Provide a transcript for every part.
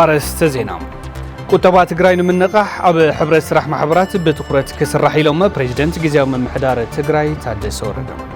ኣርእስተ ዜና ቁጠባ ትግራይ ንምንቓሕ ኣብ ሕብረት ስራሕ ማሕበራት ብትኹረት ክስራሕ ኢሎም ፕሬዚደንት ግዜያዊ ምምሕዳር ትግራይ ታደሰ ወረደ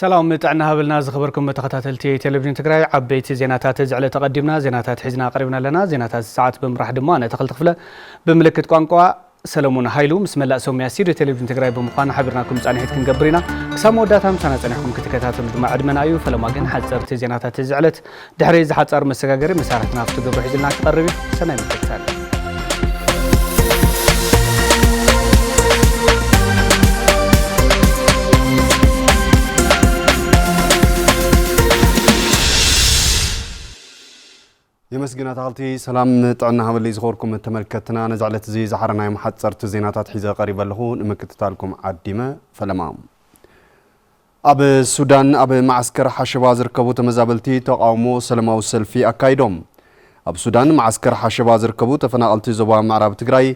ሰላም ጥዕና ሃበልና ዝኸበርኩም ተኸታተልቲ ቴሌቪዥን ትግራይ ዓበይቲ ዜናታት እዚ ዕለት ተቐዲምና ዜናታት ሒዝና ቀሪብና ኣለና ዜናታት ሰዓት ብምራሕ ድማ ኣነ ተኽልቲ ክፍለ ብምልክት ቋንቋ ሰለሙን ሃይሉ ምስ መላእ ሰሙያ ስቱድዮ ቴሌቪዥን ትግራይ ብምዃን ሓቢርናኩም ፃንሒት ክንገብር ኢና ክሳብ መወዳእታ ምሳና ፀኒሕኩም ክትከታተሉ ድማ ዕድመና እዩ ፈለማ ግን ሓፀርቲ ዜናታት እዚ ዕለት ድሕሪ እዚ ሓጻር መሰጋገሪ መሳርሕትና ኣብቲ ግብሪ ሒዙልና ክቐርብ እዩ። ሰናይ ምክትታል። የመስግን ኣታኽልቲ ሰላም ጥዕና ሃበለይ ዝኸበርኩም ተመልከትና ነዚ ዕለት እዚ ዝሓረናዮም ሓፀርቲ ዜናታት ሒዘ ቀሪበ ኣለኹ ንምክትታልኩም ዓዲመ ፈለማ ኣብ ሱዳን ኣብ መዓስከር ሓሸባ ዝርከቡ ተመዛበልቲ ተቓውሞ ሰለማዊ ሰልፊ ኣካይዶም። ኣብ ሱዳን መዓስከር ሓሸባ ዝርከቡ ተፈናቐልቲ ዞባ ምዕራብ ትግራይ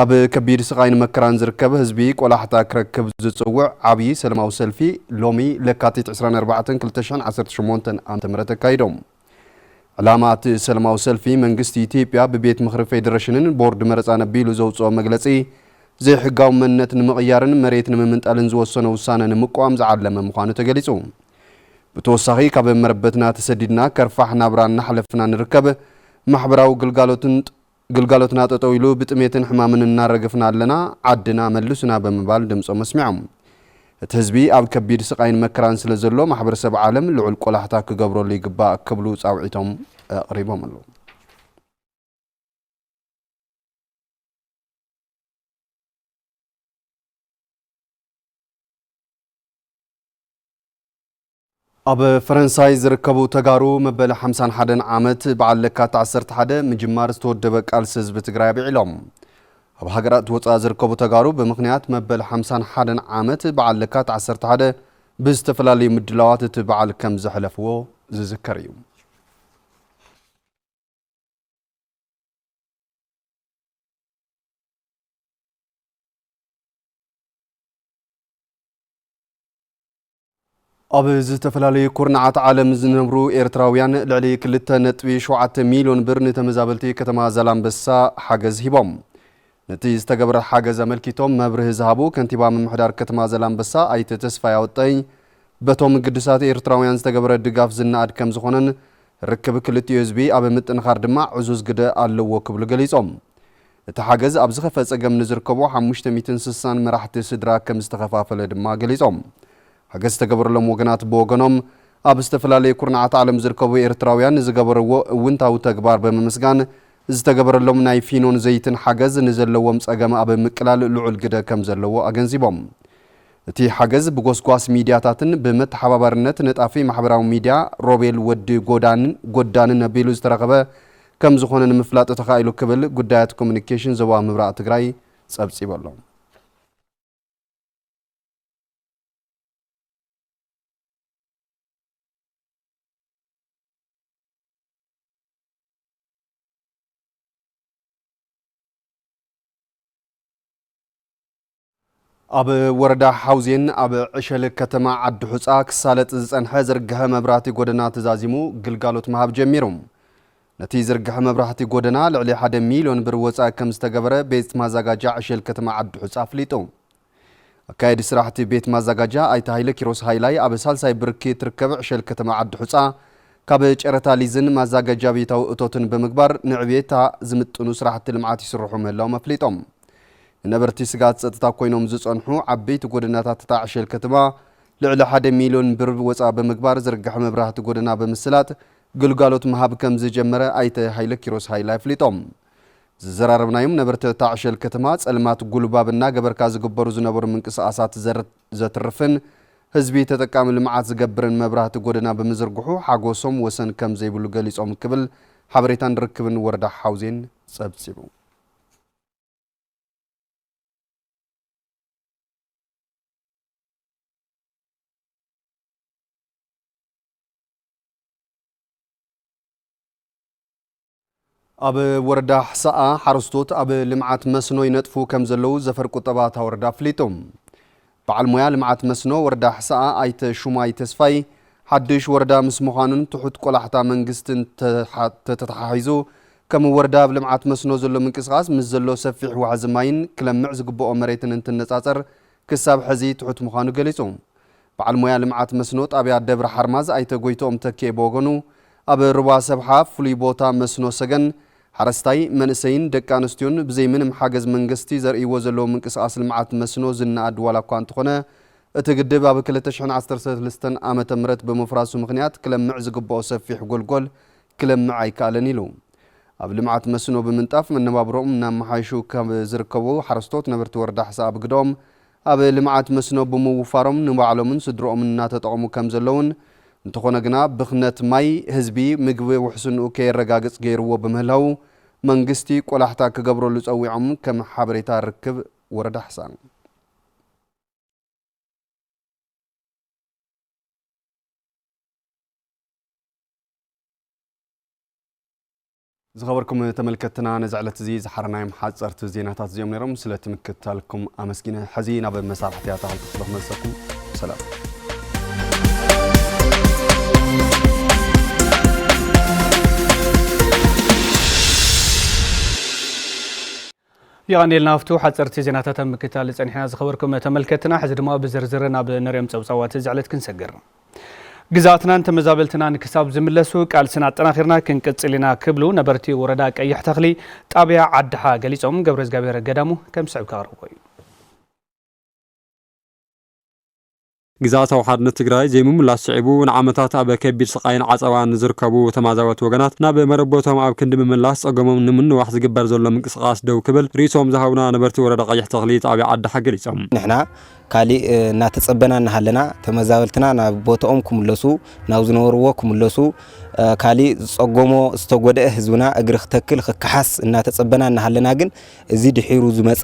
ኣብ ከቢድ ስቓይን መከራን ዝርከብ ህዝቢ ቆላሕታ ክረክብ ዝፅውዕ ዓብዪ ሰለማዊ ሰልፊ ሎሚ ለካቲት ዕስራን ኣርባዕተን ክልተ ሽሕን ዓሰርተ ሸሞንተን ዓመተ ምህረት ኣካይዶም። ዕላማ እቲ ሰለማዊ ሰልፊ መንግስቲ ኢትዮጵያ ብቤት ምኽሪ ፌዴሬሽንን ቦርድ መረፃን ኣቢሉ ዘውፅኦ መግለፂ ዘይሕጋዊ መንነት ንምቕያርን መሬት ንምምንጣልን ዝወሰኖ ውሳነ ንምቅዋም ዝዓለመ ምዃኑ ተገሊፁ። ብተወሳኺ ካብ መረበትና ተሰዲድና ከርፋሕ ናብራ እናሕለፍና ንርከብ ማሕበራዊ ግልጋሎትን ግልጋሎትና ጠጠው ኢሉ ብጥሜትን ሕማምን እናረገፍና ኣለና፣ ዓድና መልሱና ብምባል ድምፆም ኣስሚዖም። እቲ ህዝቢ ኣብ ከቢድ ስቓይን መከራን ስለዘሎ ማሕበረሰብ ዓለም ልዑል ቆላሕታ ክገብረሉ ይግባእ ክብሉ ፃውዒቶም ኣቕሪቦም ኣለው። ኣብ ፈረንሳይ ዝርከቡ ተጋሩ መበል ሓምሳን ሓደን ዓመት በዓል ለካት ዓሰርተ ሓደ ምጅማር ዝተወደበ ቃልሲ ህዝቢ ትግራይ ኣብዒሎም። ኣብ ሃገራት ወፃኢ ዝርከቡ ተጋሩ ብምኽንያት መበል ሓምሳን ሓደን ዓመት በዓል ለካት ዓሰርተ ሓደ ብዝተፈላለዩ ምድላዋት እቲ በዓል ከም ዘሕለፍዎ ዝዝከር እዩ። ኣብ ዝተፈላለዩ ኩርናዓት ዓለም ዝነብሩ ኤርትራውያን ልዕሊ ክልተ ነጥቢ ሸውዓተ ሚልዮን ብር ንተመዛበልቲ ከተማ ዛላምበሳ ሓገዝ ሂቦም። ነቲ ዝተገብረ ሓገዝ ኣመልኪቶም መብርሂ ዝሃቡ ከንቲባ ምምሕዳር ከተማ ዛላምበሳ ኣይተ ተስፋይ ኣወጠይ፣ በቶም ግዱሳት ኤርትራውያን ዝተገብረ ድጋፍ ዝነኣድ ከምዝኾነን ርክብ ክልቲኡ ህዝቢ ኣብ ምጥንኻር ድማ ዕዙዝ ግደ ኣለዎ ክብሉ ገሊጾም። እቲ ሓገዝ ኣብ ዝኸፍአ ፀገም ንዝርከቡ ሓሙሽተ ሚእትን ስሳን መራሕቲ ስድራ ከምዝተኸፋፈለ ድማ ገሊፆም። ሓገዝ ዝተገበረሎም ወገናት ብወገኖም ኣብ ዝተፈላለዩ ኩርናዓት ዓለም ዝርከቡ ኤርትራውያን ንዝገበርዎ እውንታዊ ተግባር ብምምስጋን ዝተገበረሎም ናይ ፊኖን ዘይትን ሓገዝ ንዘለዎም ፀገም ኣብ ምቅላል ልዑል ግደ ከምዘለዎ ኣገንዚቦም። እቲ ሓገዝ ብጎስጓስ ሚድያታትን ብመተሓባባርነት ነጣፊ ማሕበራዊ ሚድያ ሮቤል ወዲ ጎዳንን ጎዳንን ኣቢሉ ዝተረኸበ ከም ዝኾነ ንምፍላጥ ተኻኢሉ ክብል ጉዳያት ኮሙኒኬሽን ዞባ ምብራቕ ትግራይ ፀብፂቡ ኣሎ። ኣብ ወረዳ ሓውዜን ኣብ ዕሸል ከተማ ዓዲሑፃ ክሳለጥ ዝፀንሐ ዝርግሐ መብራህቲ ጎደና ተዛዚሙ ግልጋሎት ምሃብ ጀሚሩ። ነቲ ዝርግሐ መብራህቲ ጎደና ልዕሊ ሓደ ሚልዮን ብር ወፃኢ ከምዝተገበረ ቤት ማዛጋጃ ዕሸል ከተማ ዓዲሑፃ ኣፍሊጡ። ኣካየዲ ስራሕቲ ቤት ማዛጋጃ ኣይተ ሃይለኪሮስ ሃይላይ ኣብ ሳልሳይ ብርኪ እትርከብ ዕሸል ከተማ ዓዲሑፃ ካብ ጨረታ ሊዝን ማዛጋጃ ቤታዊ እቶትን ብምግባር ንዕብየታ ዝምጥኑ ስራሕቲ ልምዓት ይስርሑ ምህላዎም ኣፍሊጦም። ንነበርቲ ስግኣት ጸጥታ ኮይኖም ዝጸንሑ ዓበይቲ ጎደናታት'ታ ዕሸል ከተማ፣ ልዕሊ ሓደ ሚልዮን ብር ወጻ ብምግባር ዝርገሐ መብራህቲ ጎደና ብምስላጥ ግልጋሎት ምሃብ ከምዝጀመረ ኣይተ ሃይለኪሮስ ሃይለ ኣፍሊጦም። ዝዘራረብናዮም ነበርቲ'ታ ዕሸል ከተማ፣ ጸልማት ጉልባብ እናገበርካ ዝግበሩ ዝነበሩ ምንቅስቓሳት ዘትርፍን ህዝቢ ተጠቃሚ ልምዓት ዝገብርን መብራህቲ ጎደና ብምዝርግሑ ሓጎሶም ወሰን ከምዘይብሉ ገሊጾም ክብል ሓበሬታን ርክብን ወረዳ ሓውዜን ጸብጺቡ። ኣብ ወረዳ ሕሳኣ ሓረስቶት ኣብ ልምዓት መስኖ ይነጥፉ ከምዘለዉ ዘፈር ቁጠባ እታ ወረዳ ኣፍሊጡ። በዓል ሞያ ልምዓት መስኖ ወረዳ ሕሰኣ ኣይተ ሹማይ ተስፋይ፣ ሓዱሽ ወረዳ ምስ ምዃኑን ትሑት ቆላሕታ መንግስትን ተተተሓሒዙ ከም ወረዳ ኣብ ልምዓት መስኖ ዘሎ ምንቅስቓስ ምስ ዘሎ ሰፊሕ ዋሕዚ ማይን ክለምዕ ዝግበኦ መሬትን እንትነፃፀር ክሳብ ሐዚ ትሑት ምዃኑ ገሊፁ። በዓል ሞያ ልምዓት መስኖ ጣብያ ደብረ ሓርማዝ ኣይተ ጎይትኦም ተኪኤ ብወገኑ ኣብ ሩባ ሰብሓ ፍሉይ ቦታ መስኖ ሰገን ሓረስታይ መንእሰይን ደቂ ኣንስትዮን ብዘይ ምንም ሓገዝ መንግስቲ ዘርእይዎ ዘለዉ ምንቅስቓስ ልምዓት መስኖ ዝነኣድ ዋላኳ እንተኾነ እቲ ግድብ ኣብ ክልተ ሽሕን ዓሰርተ ሰለስተን ዓመተ ምህረት ብምፍራሱ ምኽንያት ክለምዕ ዝግበኦ ሰፊሕ ጎልጎል ክለምዕ ኣይከኣለን ኢሉ ኣብ ልምዓት መስኖ ብምንጣፍ መነባብሮኦም እናመሓየሹ ካብ ዝርከቡ ሓረስቶት ነበርቲ ወረዳ ሕሰ ኣብ ግደኦም ኣብ ልምዓት መስኖ ብምውፋሮም ንባዕሎምን ስድርኦምን እናተጠቐሙ ከምዘለውን፣ እንተኾነ ግና ብኽነት ማይ፣ ህዝቢ ምግቢ ውሕስንኡ ከየረጋግፅ ገይርዎ ብምህላዉ መንግስቲ ቆላሕታ ክገብረሉ ፀዊዖም ከም ሓበሬታ ርክብ ወረዳ ኣሕሳ። ዝኸበርኩም ተመልከትና ነዚ ዕለት እዚ ዝሓረናዮም ሓጸርቲ ዜናታት እዚኦም ነይሮም ስለቲ ምክትታልኩም ኣመስጊነ ሕዚ ናብ መሳርሕቲ ኣታኸልቲ ክፍለ ክመልሰኩም ሰላም የቐንየልና ሃፍቱ። ሓጸርቲ ዜናታት ኣብ ምክትታል ጸኒሕና ዝኸበርኩም ተመልከትና፣ ሕዚ ድማ ብዝርዝር ናብ ንሪኦም ጸብጻባት እዚ ዕለት ክንሰግር። ግዝኣትናን ተመዛበልትናን ክሳብ ዝምለሱ ቃልስና ኣጠናኺርና ክንቅጽል ኢና ክብሉ ነበርቲ ወረዳ ቀይሕ ተኽሊ ጣብያ ዓድሓ ገሊጾም። ገብረዝጋብሄር ገዳሙ ከምስዕብ ከቕርቦ እዩ። ግዝኣታዊ ሓድነት ትግራይ ዘይምምላስ ስዒቡ ንዓመታት ኣብ ከቢድ ስቓይን ዓፀባን ንዝርከቡ ተማዛበልቲ ወገናት ናብ መረበቶም ኣብ ክንዲ ምምላስ ፀገሞም ንምንዋሕ ዝግበር ዘሎ ምንቅስቓስ ደው ክብል ሪኢቶኦም ዝሃቡና ነበርቲ ወረዳ ቀይሕ ተኽሊ ጣብያ ዓዲሓ ገሊፆም። ንሕና ካሊእ እናተፀበና እናሃለና ተመዛበልትና ናብ ቦትኦም ክምለሱ ናብ ዝነበርዎ ክምለሱ ካሊእ ዝፀገሞ ዝተጎደኤ ህዝብና እግሪ ክተክል ክከሓስ እናተፀበና እናሃለና ግን እዚ ድሒሩ ዝመጸ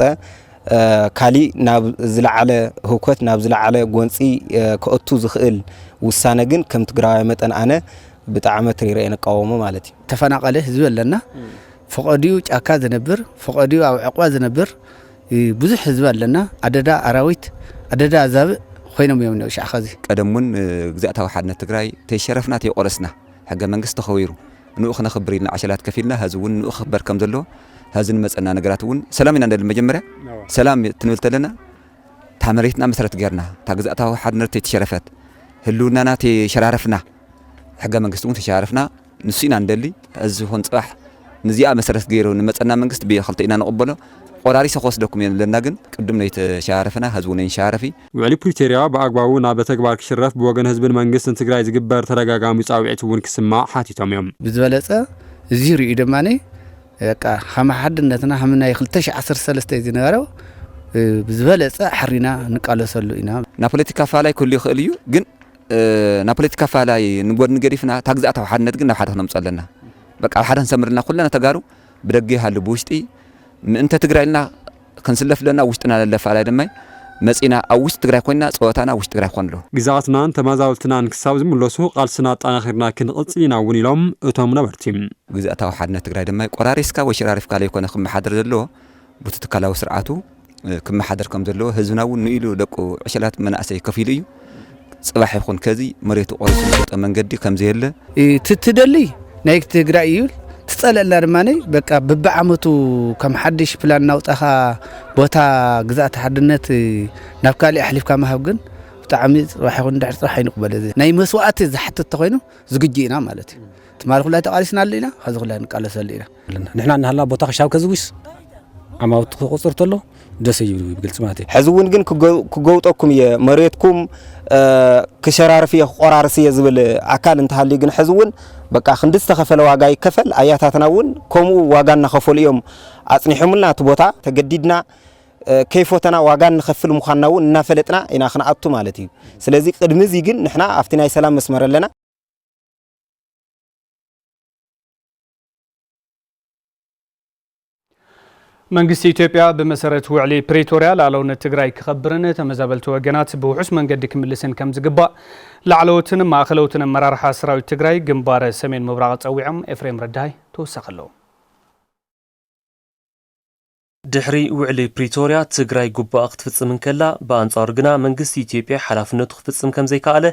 ካሊእ ናብ ዝለዓለ ህውከት ናብ ዝለዓለ ጎንጺ ከእቱ ዝኽእል ውሳነ ግን ከም ትግራዋይ መጠን ኣነ ብጣዕሚ ኣትሪረ ንቃወሞ ማለት እዩ። ተፈናቐለ ህዝቢ ኣለና። ፈቐድኡ ጫካ ዝነብር ፈቐድኡ ኣብ ዕቕባ ዝነብር ብዙሕ ህዝቢ ኣለና። ኣደዳ ኣራዊት ኣደዳ ኣዛብእ ኮይኖም እዮም እኔዉ ሻዕ ኸዚ። ቀደም እውን ግዝኣታዊ ሓድነት ትግራይ ተይሸረፍና ተይቖረስና ሕገ መንግስቲ ተኸቢሩ፣ ንኡ ክነኽብር ኢልና ዓሸላት ከፊልና ሀዚ እውን ንኡ ክኽበር ከም ዘሎ ሀዚ ንመፀና ነገራት እውን ሰላም ኢና ንደሊ መጀመርያ ሰላም ትንብል ተለና እታ መሬትና መሰረት ገርና እታ ግዛእታዊ ሓድነት ተይተሸረፈት ህልውናና ተይሸራረፍና ሕገ መንግስቲ እውን ተሸራረፍና ንሱ ኢና ንደሊ ሀዚ ይኹን ፅባሕ ንዚኣ መሰረት ገይሩ ንመፀና መንግስት ብክልተ ኢና ንቕበሎ ቆራሪሰ ክወስደኩም እየ ንብለና ግን ቅድም ነይተሸራረፈና ሀዚ እውን ኣይንሸራረፍ እዩ ውዕሊ ፕሪቶርያ ብኣግባቡ ናብ ተግባር ክሽረፍ ብወገን ህዝብን መንግስትን ትግራይ ዝግበር ተደጋጋሚ ፃውዒት እውን ክስማዕ ሓቲቶም እዮም። ብዝበለፀ እዙይ ሪኡ ድማ በቃ ኸም ሓድነትና ኸም ናይ ክልተ ሽሕ ዓሰርተ ሰለስተ ዝነበረ ብዝበለፀ ኣሕሪና ንቃለሰሉ ኢና። ናይ ፖለቲካ ኣፈላላይ ክህሉ ይኽእል እዩ፣ ግን ናይ ፖለቲካ ኣፈላላይ ንጎድኒ ገዲፍና እታ ግዝኣታዊ ሓድነት ግን ናብ ሓደ ክነምፅኦ ኣለና። በቃ ኣብ ሓደ ክንሰምር ኣለና ኩልና ተጋሩ ብደገ ይሃሉ ብውሽጢ ምእንተ ትግራይ ኢልና ክንስለፍ ለና ኣብ ውሽጥና ለለ ኣፈላላይ ድማ መጺና ኣብ ውሽጢ ትግራይ ኮይና ጸወታና ኣብ ውሽጢ ትግራይ ክኾን ኣለዎ። ግዝኣትናን ተመዛበልትናን ክሳብ ዝምለሱ ቓልስና ኣጣናኺርና ክንቕጽል ኢና እውን ኢሎም እቶም ነበርቲ። ግዝኣታዊ ሓድነት ትግራይ ድማ ቆራሪስካ ወይ ሸራሪፍካ ለይኮነ ክመሓደር ዘለዎ ቡቲ ትካላዊ ስርዓቱ ክመሓደር ከምዘለዎ ህዝብና እውን ንኢሉ ደቁ ዕሸላት መናእሰይ ከፊሉ እዩ። ጽባሕ ይኹን ከዚ መሬቱ ቆሪሱ ዝሸጠ መንገዲ ከምዘየለ ትትደሊ ናይ ትግራይ እዩ ትጸለላ ድማ በቃ ብብዓመቱ ከም ሓድሽ ፕላን ናውጣኻ ቦታ ግዛእቲ ሓድነት ናብ ካልእ ኣሕሊፍካ ምሃብ ግን ብጣዕሚ ፅባሕ ይኹን ድሕሪ ፅባሕ ኣይንቕበል እዚ ናይ መስዋእቲ ዝሓትት ተኮይኑ ዝግጁ ኢና ማለት እዩ ትማሊ ኩላይ ተቃሊስናሉ ኢና ከዚ ኩላይ ንቃለሰሉ ኢና ንሕና እናሃለና ቦታ ክሻብ ከዝውስ ዓማውቲ ክቁፅር ተሎ ደሰ ይብሉ ብግልፂ ማለት እዩ ሕዚ እውን ግን ክገውጠኩም እየ መሬትኩም ክሸራርፍ እየ ክቆራርስ እየ ዝብል ኣካል እንተሃልዩ ግን ሕዚ እውን በቃ ክንዲ ዝተኸፈለ ዋጋ ይከፈል ኣያታትና እውን ከምኡ ዋጋ እናኸፈሉ እዮም ኣፅኒሖምልና እቲ ቦታ ተገዲድና ከይፎተና ዋጋ ንኸፍል ምዃንና እውን እናፈለጥና ኢና ክንኣቱ ማለት እዩ ስለዚ ቅድሚ እዚ ግን ንሕና ኣብቲ ናይ ሰላም መስመር ኣለና መንግስቲ ኢትዮጵያ ብመሰረት ውዕሊ ፕሪቶርያ ላዕለውነት ትግራይ ክኸብርን ተመዛበልቲ ወገናት ብውሑስ መንገዲ ክምልስን ከም ዝግባእ ላዕለዎትን ማእኸለውትን ኣመራርሓ ሰራዊት ትግራይ ግንባር ሰሜን ምብራቕ ፀዊዖም ኤፍሬም ረዳይ ተወሳኺ ኣለዎ። ድሕሪ ውዕሊ ፕሪቶርያ ትግራይ ግቡኣ ክትፍፅም እንከላ ብኣንፃሩ ግና መንግስቲ ኢትዮጵያ ሓላፍነቱ ክፍፅም ከምዘይከኣለ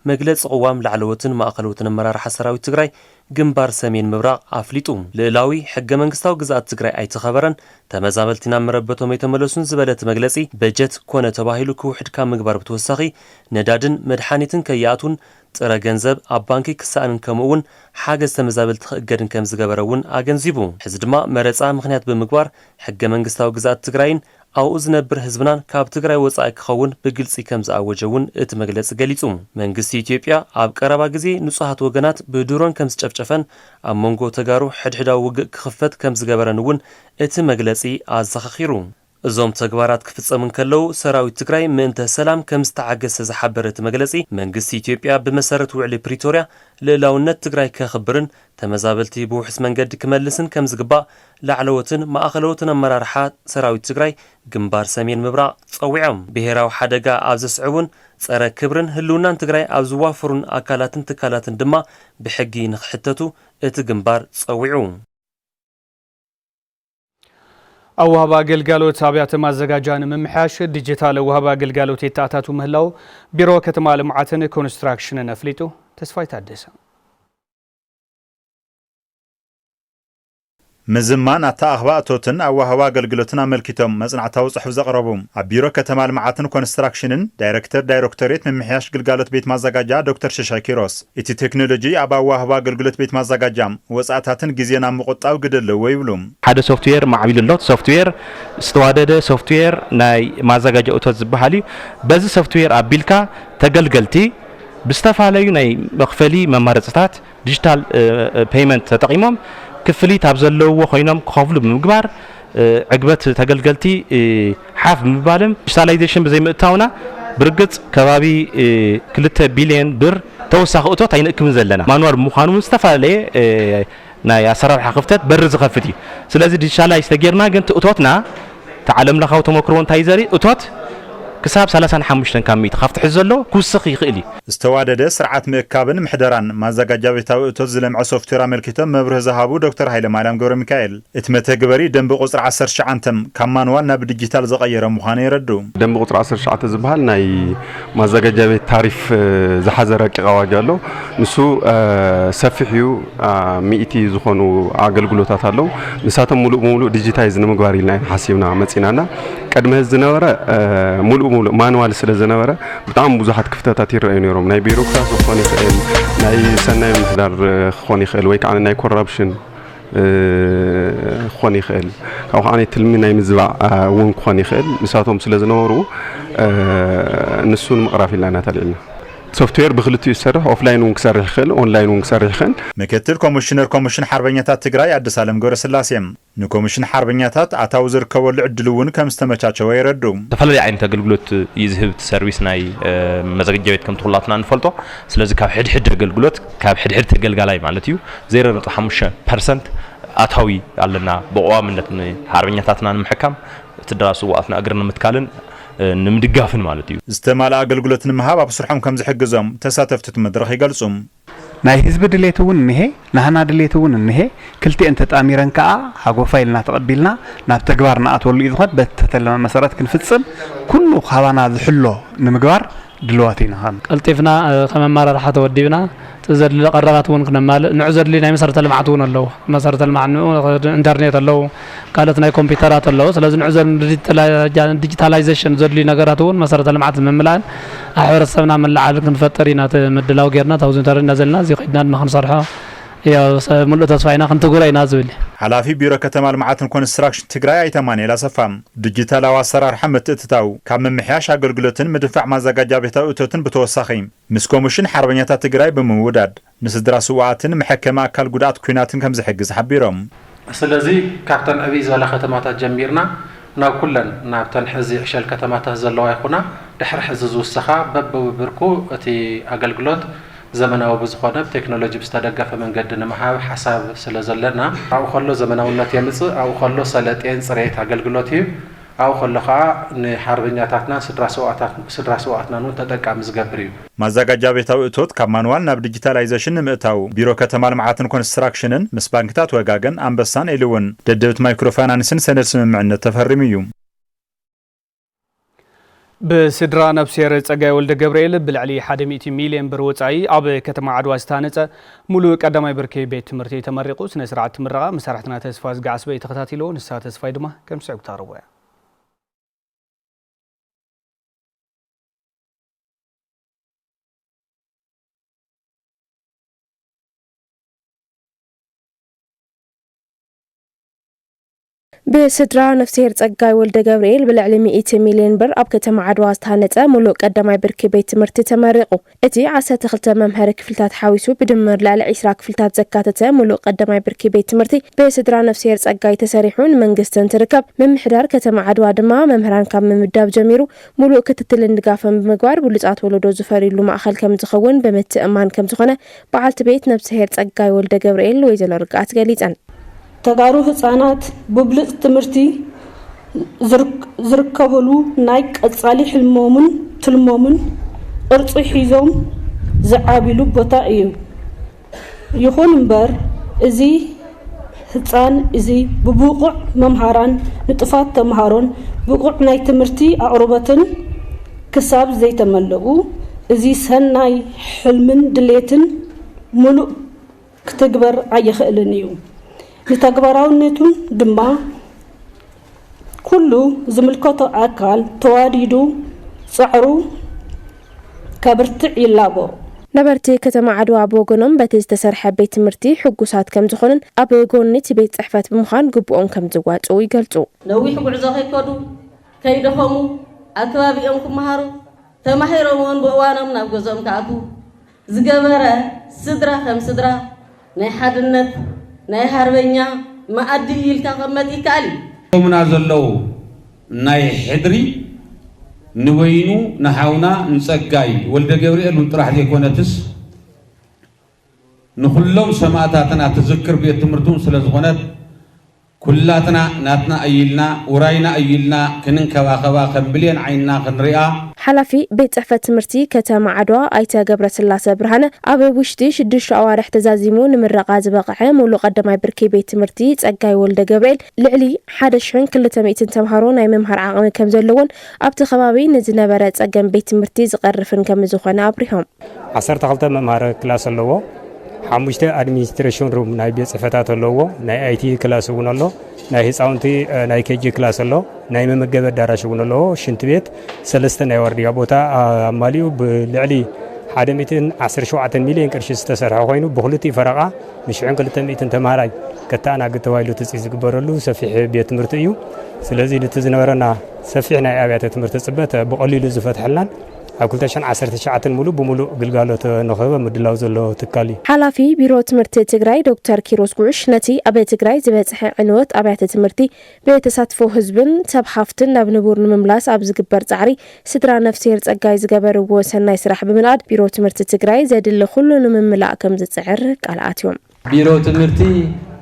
መግለፂ ቅዋም ላዕለዎትን ማእኸለዎትን ኣመራርሓ ሰራዊት ትግራይ ግንባር ሰሜን ምብራቕ ኣፍሊጡ። ልእላዊ ሕገ መንግስታዊ ግዝኣት ትግራይ ኣይተኸበረን፣ ተመዛበልቲ ናብ መረበቶም ኣይተመለሱን ዝበለ እቲ መግለፂ በጀት ኮነ ተባሂሉ ክውሕድ ካብ ምግባር ብተወሳኺ ነዳድን መድሓኒትን ከይኣትዉን ጥረ ገንዘብ ኣብ ባንኪ ክሰኣንን ከምኡ'ውን ሓገዝ ተመዛበልቲ ክእገድን ከምዝገበረ እውን ኣገንዚቡ። ሕዚ ድማ መረፃ ምኽንያት ብምግባር ሕገ መንግስታዊ ግዝኣት ትግራይን ኣብኡ ዝነብር ህዝብናን ካብ ትግራይ ወፃኢ ክኸውን ብግልፂ ከምዝኣወጀ እውን እቲ መግለፂ ገሊፁ። መንግስቲ ኢትዮጵያ ኣብ ቀረባ ግዜ ንፁሃት ወገናት ብድሮን ከምዝጨፍጨፈን ኣብ መንጎ ተጋሩ ሕድሕዳዊ ውግእ ክኽፈት ከምዝገበረን እውን እቲ መግለፂ ኣዘኻኺሩ። እዞም ተግባራት ክፍፀሙ እንከለዉ ሰራዊት ትግራይ ምእንተ ሰላም ከምዝተዓገሰ ዝሓበረ እቲ መግለፂ፣ መንግስቲ ኢትዮጵያ ብመሰረት ውዕሊ ፕሪቶርያ ልእላውነት ትግራይ ከኽብርን ተመዛበልቲ ብውሑስ መንገዲ ክመልስን ከምዝግባእ ላዕለዎትን ማእኸለዎትን ኣመራርሓ ሰራዊት ትግራይ ግንባር ሰሜን ምብራቕ ፀዊዖም። ብሄራዊ ሓደጋ ኣብ ዘስዕቡን ፀረ ክብርን ህልውናን ትግራይ ኣብ ዝዋፈሩን ኣካላትን ትካላትን ድማ ብሕጊ ንኽሕተቱ እቲ ግንባር ፀዊዑ። ኣዋህባ ግልጋሎት ኣብያተ ማዘጋጃ ንምምሕያሽ ዲጂታል ዋህባ ግልጋሎት የተኣታቱ ምህላው ቢሮ ከተማ ልምዓትን ኮንስትራክሽንን ኣፍሊጡ። ተስፋይ ታደሰ ምዝማን ኣተኣኽባ እቶትን ኣዋህባ ኣገልግሎትን ኣመልኪቶም መጽናዕታዊ ጽሑፍ ዘቕረቡ ኣብ ቢሮ ከተማ ልምዓትን ኮንስትራክሽንን ዳይረክተር ዳይረክቶሬት ምምሕያሽ ግልጋሎት ቤት ማዘጋጃ ዶክተር ሽሻይ ኪሮስ እቲ ቴክኖሎጂ ኣብ ኣወሃህባ ኣገልግሎት ቤት ማዛጋጃ፣ ወጻእታትን ግዜን ኣብ ምቑጣብ ግደ ኣለዎ ይብሉ። ሓደ ሶፍትዌር ማዕቢሉ ኣሎ። እቲ ሶፍትዌር ዝተዋደደ ሶፍትዌር ናይ ማዛጋጃ እቶት ዝበሃል እዩ። በዚ ሶፍትዌር ኣቢልካ ተገልገልቲ ብዝተፋለዩ ናይ መኽፈሊ መማረጺታት፣ ዲጂታል ፔይመንት፣ ተጠቒሞም ክፍሊት ኣብ ዘለውዎ ኮይኖም ክኸፍሉ ብምግባር፣ ዕግበት ተገልገልቲ ሓፍ ብምባልም ዲጂታላይዜሽን ብዘይምእታውና ብርግፅ ከባቢ ክልተ ቢሊየን ብር ተወሳኺ እቶት ኣይንእክብን ዘለና። ማኑዋል ብምዃኑ እውን ዝተፈላለየ ናይ ኣሰራርሓ ክፍተት በሪ ዝኸፍት እዩ። ስለዚ ዲጂታላይዝ ተገይርና ግን እቲ እቶትና እቲ ዓለም ለኻዊ ተሞክሮ እንታይ እዩ ዘርኢ እቶት ክሳብ ሰላሳን ሓሙሽተን ካብ ሚእቲ ካብቲ ሕዚ ዘሎ ክውስኽ ይኽእል እዩ። ዝተዋደደ ስርዓት ምእካብን ምሕደራን ማዘጋጃቤታዊ እቶት ዝለምዐ ሶፍትዌር ኣመልኪቶም መብርሂ ዝሃቡ ዶክተር ሃይለማርያም ገብረሚካኤል፣ እቲ መተግበሪ ደንቢ ቁፅሪ ዓሰርተ ትሽዓንተ ካብ ማንዋል ናብ ዲጂታል ዝቐየረ ምዃኑ የረድኡ። ደንቢ ቁፅሪ ዓሰርተ ትሽዓተ ዝበሃል ናይ ማዘጋጃ ቤት ታሪፍ ዝሓዘ ረቂቕ ኣዋጅ ኣሎ። ንሱ ሰፊሕ እዩ፣ ሚእቲ ዝኾኑ ኣገልግሎታት ኣለው። ንሳቶም ሙሉእ ብሙሉእ ዲጂታይዝ ንምግባር ኢልና ኢና ሓሲብና መፂና እና ቅድሚ ሕዚ ዝነበረ ሙሉእ ብሙሉእ ማንዋል ስለ ዝነበረ ብጣዕሚ ብዙሓት ክፍተታት ይረኣዩ ነይሮም። ናይ ቢሮክራሲ ክኾን ይኽእል፣ ናይ ሰናይ ምምሕዳር ክኾን ይኽእል ወይ ከዓ ናይ ኮራፕሽን ክኾን ይኽእል ካብኡ ከዓኒ ትልሚ ናይ ምዝባዕ እውን ክኾን ይኽእል ንሳቶም ስለ ዝነበሩ ንሱ ንምቕራፍ ኢልና ኢና ተልዒልና ሶፍትዌር ብክልቲኡ ዝሰርሕ ኦፍላይን እውን ክሰርሕ ይኽእል ኦንላይን እውን ክሰርሕ ይኽእል ምክትል ኮሚሽነር ኮሚሽን ሓርበኛታት ትግራይ ኣድሳለም ገብረስላሴ፣ ንኮሚሽን ሓርበኛታት ኣታዊ ዝርከበሉ ዕድል እውን ከምዝተመቻቸወ የረድኡ። ዝተፈላለየ ዓይነት ኣገልግሎት እዩ ዝህብ እቲ ሰርቪስ ናይ መዘገጃ ቤት ከምቲ ኩላትና እንፈልጦ ስለዚ ካብ ሕድሕድ ኣገልግሎት ካብ ሕድሕድ ተገልጋላይ ማለት እዩ ዜሮ ነጥቢ ሓሙሽተ ፐርሰንት ኣታዊ ኣለና፣ ብቐዋምነት ንሓርበኛታትና ንምሕካም፣ ስድራ ስውኣትና እግሪ ንምትካልን ንምድጋፍን ማለት እዩ። ዝተማልኣ ኣገልግሎት ንምሃብ ኣብ ስርሖም ከምዝሕግዞም ተሳተፍቲ እቲ መድረኽ ይገልፁ። ናይ ህዝቢ ድሌት እውን እኒሀ፣ ናህና ድሌት እውን እኒሀ፣ ክልቲኤን ተጣሚረን ከዓ ሃጎፋ ኢልና ተቐቢልና ናብ ተግባር ንኣትወሉ እዩ ዝኾን፣ በቲ ተተለመ መሰረት ክንፍፅም ኩሉ ካባና ዝሕሎ ንምግባር ድልዋት ኢና ከም። ቀልጢፍና ከም ኣመራርሓ ተወዲብና እቲ ዘድሊ ቀረባት እውን ክነማልእ ንዑ ዘድሊ ናይ መሰረተ ልምዓት እውን ኣለዉ መሰረተ ልምዓት ንዑ ኢንተርኔት ኣለዉ ካልኦት ናይ ኮምፒተራት ኣለዉ ስለዚ ንዑ ዘድሊ ዲጂታላይዘሽን ዘድልዩ ነገራት እውን መሰረተ ልምዓት ንምምላእን ኣብ ሕብረተሰብና መለዓዓሊ ክንፈጥር ኢና እቲ ምድላው ጌርና እቲ ኣውዚ ኢንተርኔት እንዳዘልና እዚ ከይድና ድማ ክንሰርሖ ያው ሙሉእ ተስፋ ኢና ክንትግብሮ ኢና ዝብል እዩ። ሓላፊ ቢሮ ከተማ ልምዓትን ኮንስትራክሽን ትግራይ ኣይተ ኣማኒኤል ኣሰፋ፣ ዲጂታላዊ ኣሰራርሓ ምትእትታው ካብ ምምሕያሽ ኣገልግሎትን ምድንፋዕ ማዛጋጃ ቤታዊ እቶትን ብተወሳኺ ምስ ኮሚሽን ሓርበኛታት ትግራይ ብምውዳድ ንስድራ ስውኣትን መሐከሚ ኣካል ጉድኣት ኲናትን ከምዝሕግዝ ሓቢሮም። ስለዚ ካብተን ዕብይ ዝበላ ከተማታት ጀሚርና ናብ ኩለን ናብተን ሕዚ ዕሸል ከተማታት ዘለዋ ይኹና ድሕሪ ሕዚ ዝውሰኻ በብብብርኩ እቲ ኣገልግሎት ዘመናዊ ብዝኾነ ብቴክኖሎጂ ብዝተደገፈ መንገዲ ንምሃብ ሓሳብ ስለዘለና ኣብኡ ከሎ ዘመናውነት የምፅእ ኣብኡ ከሎ ሰለጤን ፅሬት ኣገልግሎት እዩ። ኣብኡ ከሎ ከኣ ንሓርበኛታትናን ስድራ ስውኣትናን እውን ተጠቃሚ ዝገብር እዩ። ማዛጋጃ ቤታዊ እቶት ካብ ማንዋል ናብ ዲጂታላይዘሽን ንምእታው ቢሮ ከተማ ልምዓትን ኮንስትራክሽንን ምስ ባንክታት ወጋገን፣ ኣንበሳን ኤሊ እውን ደደቢት ማይክሮ ፋይናንስን ሰነድ ስምምዕነት ተፈሪሙ እዩ። ብስድራ ነፍስሄር ጸጋይ ወልደገብርኤል ብልዕሊ ሓደ ሚእቲ ሚልዮን ብር ወጻኢ ኣብ ከተማ ዓድዋ ዝተሃነጸ ሙሉእ ቀዳማይ ብርኪ ቤት ትምህርቲ ተመሪቑ። ስነ ስርዓት እቲ ምረቓ መሳርሕትና ተስፋዝጊ ዓስበ እዩ ተኸታቲልዎ። ንስሃ ተስፋይ ድማ ከም ዝስዕብ ክተቕርቦ እያ። ብስድራ ነፍስሄር ፀጋይ ወልደገብርኤል ብልዕሊ ሚእቲ ሚልየን ብር ኣብ ከተማ ዓድዋ ዝተሃነፀ ሙሉእ ቀዳማይ ብርኪ ቤት ትምህርቲ ተመሪቑ። እቲ ዓሰርተ ክልተ መምሀሪ ክፍልታት ሓዊሱ ብድምር ልዕሊ ዒስራ ክፍልታት ዘካተተ ሙሉእ ቀዳማይ ብርኪ ቤት ትምህርቲ ብስድራ ነፍስሄር ፀጋይ ተሰሪሑ ንመንግስቲ እንትርከብ ምምሕዳር ከተማ ዓድዋ ድማ መምህራን ካብ ምምዳብ ጀሚሩ ሙሉእ ክትትልን ድጋፍን ብምግባር ብሉፃት ወለዶ ዝፈርዩሉ ማእኸል ከምዝኸውን ብምትእምማን ከምዝኾነ በዓልቲ ቤት ነብስሄር ፀጋይ ወልደገብርኤል ወይዘሎ ርግኣት ገሊፀን። ተጋሩ ህፃናት ብብሉፅ ትምህርቲ ዝርከቡሉ ናይ ቀፃሊ ሕልሞምን ትልሞምን ቅርፂ ሒዞም ዝዓብይሉ ቦታ እዩ። ይኹን እምበር እዚ ህፃን እዚ ብብቑዕ መምሃራን ንጡፋት ተምሃሮን ብቑዕ ናይ ትምህርቲ ኣቕርቦትን ክሳብ ዘይተመለኡ እዚ ሰናይ ሕልምን ድሌትን ሙሉእ ክትግበር ኣይኽእልን እዩ። ንተግባራውነቱን ድማ ኩሉ ዝምልከቶ ኣካል ተዋዲዱ ጸዕሩ ከብርትዕ ይላቦ። ነበርቲ ከተማ ዓድዋ ብወገኖም በቲ ዝተሰርሐ ቤት ትምህርቲ ሕጉሳት ከምዝኾኑን ኣብ ጎኒ እቲ ቤት ፅሕፈት ብምዃን ግቡኦም ከምዝዋፅኡ ይገልፁ። ነዊሕ ጉዕዞ ከይከዱ፣ ከይደኸሙ፣ ኣብ ከባቢኦም ክመሃሩ፣ ተማሂሮም እውን ብእዋኖም ናብ ገዝኦም ክኣትዉ፣ ዝገበረ ስድራ ከም ስድራ ናይ ሓድነት ናይ ሃርበኛ መኣዲ ኢልካ ክቅመጥ ይከኣል እዩ። ሎምና ዘለዉ ናይ ሕድሪ ንበይኑ ንሓውና ንጸጋይ ወልደገብርኤል ውን ጥራሕ ዘይኮነትስ ንኹሎም ሰማእታትና ትዝክር ቤት ትምህርቲ ውን ስለዝኾነት፣ ኩላትና ናትና እዩ ኢልና ውራይና እዩ ኢልና ክንንከባኸባ ከም ብሌን ዓይንና ክንሪኣ። ሓላፊ ቤት ፅሕፈት ትምህርቲ ከተማ ዓድዋ ኣይተ ገብረስላሰ ብርሃነ ኣብ ውሽጢ ሽዱሽተ ኣዋርሕ ተዛዚሙ ንምረቓ ዝበቐዐ ሙሉእ ቐዳማይ ብርኪ ቤት ትምህርቲ ፀጋይ ወልደገብርኤል ልዕሊ ሓደ ሽሕን ክልተ ሚእትን ተምሃሮ ናይ ምምሃር ዓቕሚ ከምዘለዎን ኣብቲ ከባቢ ንዝነበረ ፀገም ቤት ትምህርቲ ዝቐርፍን ከምዝኾነ ኣብሪሆም። ዓሰርተ ክልተ መምሃሪ ክላስ ኣለዎ። ሓሙሽተ ኣድሚኒስትሬሽን ሩም ናይ ቤት ፅሕፈታት ኣለዎ። ናይ ኣይቲ ክላስ እውን ኣሎ። ናይ ህፃውንቲ ናይ ኬጂ ክላስ ኣሎ። ናይ መመገቢ ኣዳራሽ እውን ኣለዎ። ሽንት ቤት ሰለስተ ናይ ዋርድያ ቦታ ኣማሊኡ ብልዕሊ ሓደ ሚእትን ዓሰርተ ሸውዓተን ሚልዮን ቅርሺ ዝተሰርሐ ኮይኑ ብክልቲኡ ፈረቓ ንሽሕን ክልተ ሚእትን ተምሃራይ ከተኣናግድ ተባሂሉ ትፅቢት ዝግበረሉ ሰፊሕ ቤት ትምህርቲ እዩ። ስለዚ ነቲ ዝነበረና ሰፊሕ ናይ ኣብያተ ትምህርቲ ፅበት ብቐሊሉ ዝፈትሐልናን ኣብ ክልተ ሽሕን ዓሰርተ ትሽዓተን ሙሉእ ብሙሉእ ግልጋሎት ንኽህብ ኣብ ምድላው ዘሎ ትካል እዩ። ሓላፊ ቢሮ ትምህርቲ ትግራይ ዶክተር ኪሮስ ጉዕሽ ነቲ ኣብ ትግራይ ዝበፅሐ ዕንወት ኣብያተ ትምህርቲ ብተሳትፎ ህዝብን ሰብ ሃፍትን ናብ ንቡር ንምምላስ ኣብ ዝግበር ፃዕሪ ስድራ ነፍስሄር ፀጋይ ዝገበርዎ ሰናይ ስራሕ ብምንኣድ ቢሮ ትምህርቲ ትግራይ ዘድሊ ኹሉ ንምምላእ ከምዝፅዕር ቃል ኣትዮም። ቢሮ ትምህርቲ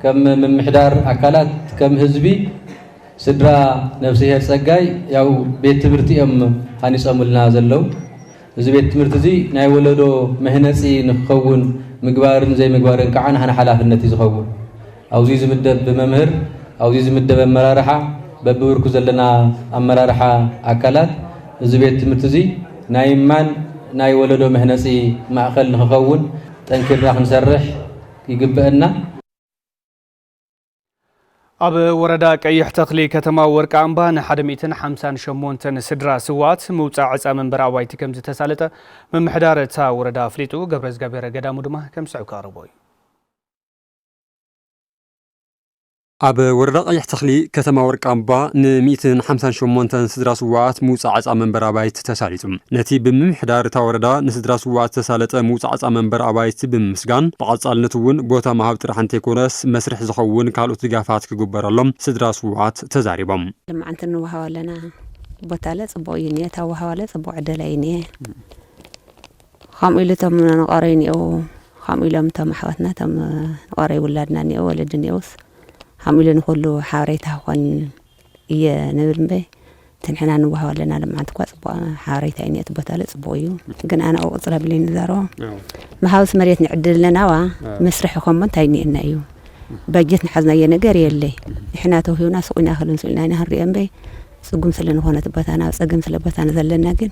ከም ምምሕዳር ኣካላት ከም ህዝቢ ስድራ ነፍስሄር ፀጋይ ያው ቤት ትምህርቲ እዮም ሃኒፆምልና ዘለው። እዚ ቤት ትምህርቲ እዚ ናይ ወለዶ መህነፂ ንክኸውን ምግባርን ዘይምግባርን ከዓ ናህና ሓላፍነት እዩ ዝኸውን። ኣብዙይ ዝምደብ መምህር ኣብዙይ ዝምደብ ኣመራርሓ በቢብርኩ ዘለና ኣመራርሓ ኣካላት እዚ ቤት ትምህርቲ እዚ ናይ ማን ናይ ወለዶ መህነፂ ማእኸል ንክኸውን ጠንኪርና ክንሰርሕ ይግበእና። ኣብ ወረዳ ቀይሕ ተኽሊ ከተማ ወርቂ ኣምባ ንሓደ ሚእትን ሓምሳን ሸሞንተን ስድራ ስዋኣት ምውፃእ ዕፃ መንበሪ ኣባይቲ ከም ዝተሳለጠ ምምሕዳር እታ ወረዳ ኣፍሊጡ። ገብረዝገብሄረ ገዳሙ ድማ ከም ዝስዕብ ከቕርቦ እዩ። ኣብ ወረዳ ቀይሕ ተኽሊ ከተማ ወርቃምባ ን ሚእትን ሓምሳን ሸሞንተን ስድራ ስዉኣት ምውፃእ ዓፃ መንበሪ ኣባይቲ ተሳሊጡ። ነቲ ብምምሕዳር እታ ወረዳ ንስድራ ስዉኣት ዝተሳለጠ ምውፃእ ዓፃ መንበሪ ኣባይቲ ብምምስጋን ብቐፃልነት እውን ቦታ ምሃብ ጥራሕ እንተይኮነስ መስርሕ ዝኸውን ካልኦት ድጋፋት ክግበረሎም ስድራ ስዉኣት ተዛሪቦም። ልማዓንቲ ንወሃባ ኣለና ቦታለ ፅቡቕ እዩ እኒኤ ታወሃባለ ፅቡቕ ዕደላ እዩ እኒኤ። ኸምኡ ኢሉ እቶም ንቐረዩ እኔእዉ ኸምኡ ኢሎም እቶም ኣሕዋትና እቶም ንቐረዩ ውላድና እኔእዉ ወለዲ እኔእዉስ ኸምኡ ኢሉ ንኹሉ ሓበሬታ ክኾን እየ ንብል እምበይ ትንሕና ንዋሃብ ኣለና ልምዓት እኳ ፅቡቅ ሓበሬታ እዩ እቲ ቦታ ለ ፅቡቅ እዩ ግን ኣነ ኣብኡ ቅፅረ ብለይ ንዛረቦ መሃውስ መሬት ንዕድል ኣለናዋ መስርሒ ኮሞ እንታይ እኒኤና እዩ ባጀት ንሓዝናዮ ነገር የለይ ንሕና ተውሂብና ሱቅ ኢና ክልን ሱቅ ኢና ኢና ክንሪኦ እምበይ ጽጉም ስለ ንኮነት በታና ኣብ ጸገም ስለ በታና ዘለና ግን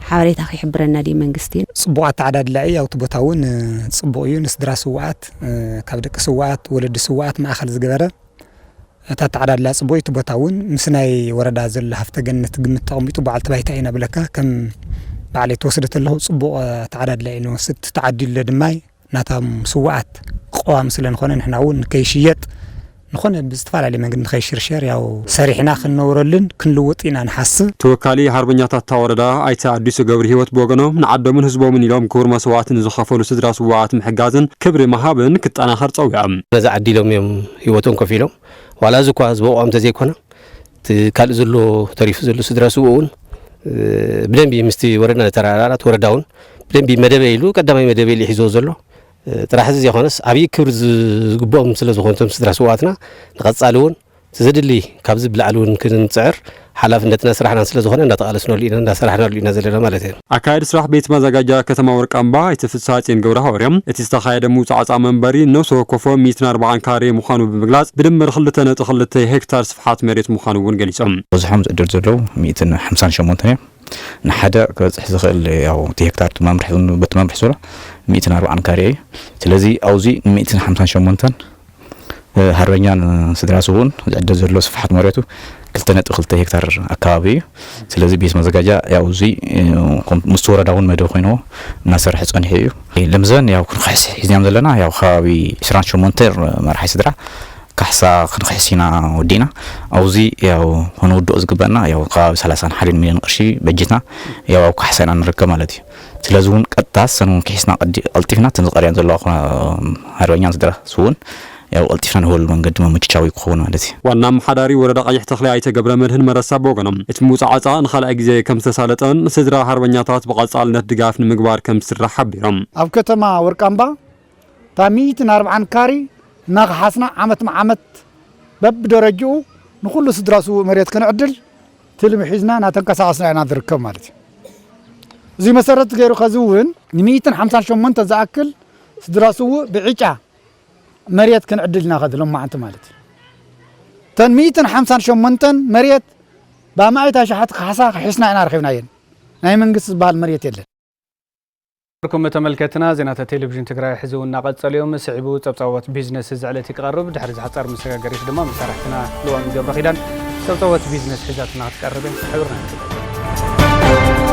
ሓበሬታ ክሕብረና ድዩ መንግስቲ። ጽቡቕ ኣተዓዳድላ እዩ ኣብቲ ቦታ እውን ጽቡቕ እዩ ንስድራ ስውኣት ካብ ደቂ ስውኣት ወለዲ ስውኣት ማእኸል ዝገበረ እቲ ኣተዓዳድላ ጽቡቕ እዩ እቲ ቦታ እውን ምስ ናይ ወረዳ ዘሎ ሃፍተ ገነት ግምት ተቐሚጡ በዓልቲ ባይታ ኢና ብለካ ከም ባዕለይ ተወስደ ተለኹ ጽቡቕ ኣተዓዳድላ እዩ ንወስድ ተዓዲሉ ድማ ናታም ስዋኣት ቐዋሚ ስለ ንኮነ ንሕና ውን ንከይሽየጥ ንኮነ ብዝተፋላለየ መንገዲ ንከይሽርሸር ያው ሰሪሕና ክንነብረሉን ክንልውጥ ኢና ንሓስብ። ተወካሊ ሃርበኛታት እታ ወረዳ ኣይተ ኣዲሱ ገብርሂወት ብወገኖም ንዓዶምን ህዝቦምን ኢሎም ክቡር መስዋእቲ ንዝኸፈሉ ስድራ ስዋኣት ምሕጋዝን ክብሪ ምሃብን ክጠናኸር ፀዊዖም። ነዚ ዓዲ ኢሎም እዮም ሂወቶም ከፊሎም ዋላ እዚ እኳ ዝበቕዖም ተዘይኮነ። እቲ ካልእ ዘሎ ተሪፉ ዘሎ ስድራ ስውእ እውን ብደንቢ ምስቲ ወረዳ ተራራት ወረዳ እውን ብደንቢ መደበ ኢሉ ቀዳማይ መደበ ኢሉ ሒዞ ዘሎ ጥራሕ እዚ ዘይኮነስ ዓብዪ ክብሪ ዝግብኦም ስለ ዝኾኑ እቶም ስድራ ስዋትና ንቐፃሊ እውን ዘድሊ ካብዚ ብላዕሊ እውን ክንፅዕር ሓላፍነትና ስራሕናን ስለ ዝኾነ እንዳተቓለስናሉ ኢና እንዳሰራሕናሉ ኢና ዘለና ማለት እዩ ኣካያዲ ስራሕ ቤት ማዛጋጃ ከተማ ወርቃምባ ኣይተ ፍስሃጼን ገብረሃዋርያም፣ እቲ ዝተኻየደ ምውፃእ ዕፃ መንበሪ ነብሰ ወከፎ ሚእትን ኣርባዓን ካሬ ምዃኑ ብምግላፅ፣ ብድምር ክልተ ነጥቢ ክልተ ሄክታር ስፍሓት መሬት ምዃኑ እውን ገሊፆም። በዝሖም ዝዕደሉ ዘለዉ ሚእትን ሓምሳን ሸሞንተን እዮም። ንሓደ ክበፅሕ ዝኽእል ያው እቲ ሄክታር እቲ መምርሒ በቲ መምርሒ ዘሎ ሚእትን ኣርባዓን ካሬ እዩ። ስለዚ ኣብዙይ ንሚእትን ሓምሳን ሸሞንተን ሃርበኛ ንስድራ ስውኡን ዝዕደል ዘሎ ስፍሓት መሬቱ ክልተ ነጥቢ ክልተ ሄክታር ኣካባቢ እዩ። ስለዚ ቤት መዘጋጃ ያው እዙይ ምስ ወረዳ እውን መደብ ኮይንዎ እናሰርሐ ፀኒሑ እዩ። ለምዘን ያው ክንክሕስ ሒዝናዮም ዘለና ያው ከባቢ ዕስራን ሸሞንተን መራሒ ስድራ ካሕሳ ክንክሕስ ኢና ወዲእና። ኣብዙይ ያው ከነውድኦ ዝግበእና ያው ከባቢ ሰላሳን ሓደን ሚልዮን ቅርሺ በጂትና ያው ኣብ ካሕሳ ኢና ንርከብ ማለት እዩ። ስለዚ ውን ቀጥታ ሰን ውን ክሒስና ቀዲ ቀልጢፍና እተን ዝቀርያን ዘለዋ ኩ ሃርበኛን ስድራ ስዉኡን ያው ቀልጢፍና ንህበሉ መንገዲ መመችቻዊ እዩ ክኸውን ማለት እዩ። ዋና ኣመሓዳሪ ወረዳ ቀይሕ ተኽሊ ኣይተ ገብረመድህን መረሳ ብወገኖም፣ እቲ ምውፀዓፃ ንኻልኣይ ግዜ ከምዝተሳለጠን ንስድራ ሃርበኛታት ብቐፃልነት ድጋፍ ንምግባር ከምዝስራሕ ሓቢሮም። ኣብ ከተማ ወርቃምባ እታ ሚኢትን ኣርብዓን ካሪ እናኸሓስና ዓመት ንዓመት በብደረጅኡ ንኹሉ ስድራ ስውእ መሬት ክንዕድል ትልሚ ሒዝና እናተንቀሳቐስና ኢና ዝርከብ ማለት እዩ። እዙይ መሰረት ገይሩ ከዚ እውን ንሚኢትን ሓምሳን ሸሞንተ ዝኣክል ስድራ ስውእ ብዕጫ መሬት ክንዕድል ኢና ከዚ ሎማዓንቲ ማለት እዩ። እተን ሚኢትን ሓምሳን ሸሞንተን መሬት ብኣማኢት ኣሽሓት ካሕሳ ክሒስና ኢና ረኺብናየን። ናይ መንግስቲ ዝበሃል መሬት የለን። ኩም ተመልከትና ዜናታት ቴሌቪዥን ትግራይ ሕዚ እውን እናቐጸሉ እዮም። ስዒቡ ጸብጻቦት ቢዝነስ እዚ ዕለት ክቐርብ ድሕሪ ዝሓጻር መሰጋገሪት ድማ መሳርሕትና ልዋም ገብረ ኪዳን ጸብጻቦት ቢዝነስ ሒዛትና ክትቀርብ እያ። ሕብርና ንግለጽ።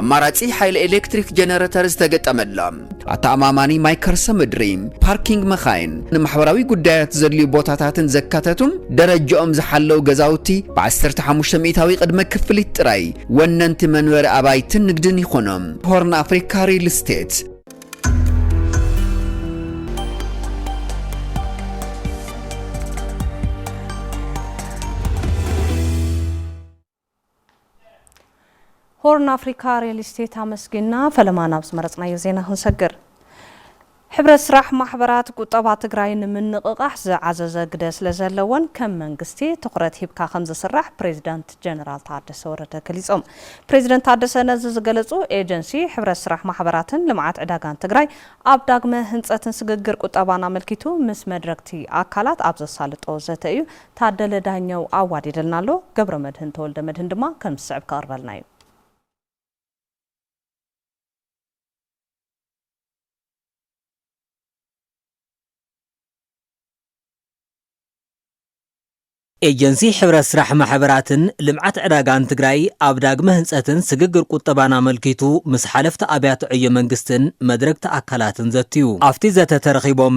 ኣማራጺ ሓይሊ ኤሌክትሪክ ጀነረተር ዝተገጠመላ፣ ኣተኣማማኒ ማይ ከርሰ ምድሪ፣ ፓርኪንግ መኻይን፣ ንማሕበራዊ ጉዳያት ዘድልዩ ቦታታትን ዘካተቱን ደረጃኦም ዝሓለው ገዛውቲ ብዓሰርተ ሓሙሽተ ሚእታዊ ቅድመ ክፍሊት ጥራይ ወነንቲ መንበሪ ኣባይትን ንግድን ይኾኑ። ሆርን ኣፍሪካ ሪል ስቴት። ሆርን ኣፍሪካ ሪል ስቴት ኣመስጊንና። ፈለማ ናብ ዝመረፅናዮ ዜና ክንሰግር። ሕብረት ስራሕ ማሕበራት ቁጠባ ትግራይ ንምንቕቓሕ ዝዓዘዘ ግደ ስለዘለወን ከም መንግስቲ ትኹረት ሂብካ ከምዝስራሕ ፕሬዚዳንት ጀነራል ታደሰ ወረደ ገሊፆም። ፕሬዚደንት ታደሰ ነዚ ዝገለፁ ኤጀንሲ ሕብረት ስራሕ ማሕበራትን ልምዓት ዕዳጋን ትግራይ ኣብ ዳግመ ህንፀትን ስግግር ቁጠባን ኣመልኪቱ ምስ መድረግቲ ኣካላት ኣብ ዘሳልጦ ዘተ እዩ ታደለ ዳኘው ኣዋዲደልና ኣሎ፣ ገብረመድህን ተወልደመድህን ድማ ከም ዝስዕብ ከቕርበልና እዩ። ኤጀንሲ ሕብረት ስራሕ ማሕበራትን ልምዓት ዕዳጋን ትግራይ ኣብ ዳግመ ህንፀትን ስግግር ቁጠባን ኣመልኪቱ ምስ ሓለፍቲ ኣብያተ ዕዮ መንግስትን መድረግቲ ኣካላትን ዘትዩ። ኣፍቲ ዘተ ተረኺቦም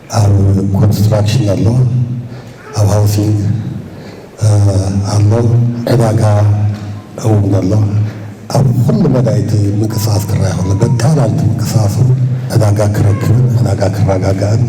ኣብ ኮንስትራክሽን ኣሎ ኣብ ሃውሲንግ ኣሎ ዕዳጋ እውን ኣሎ ኣብ ኩሉ መዳይ እቲ ምንቅስቃስ ክረኣ ከሎ በጣላል እቲ ምንቅስቃስ እውን ዕዳጋ ክረክብን ዕዳጋ ክረጋጋእን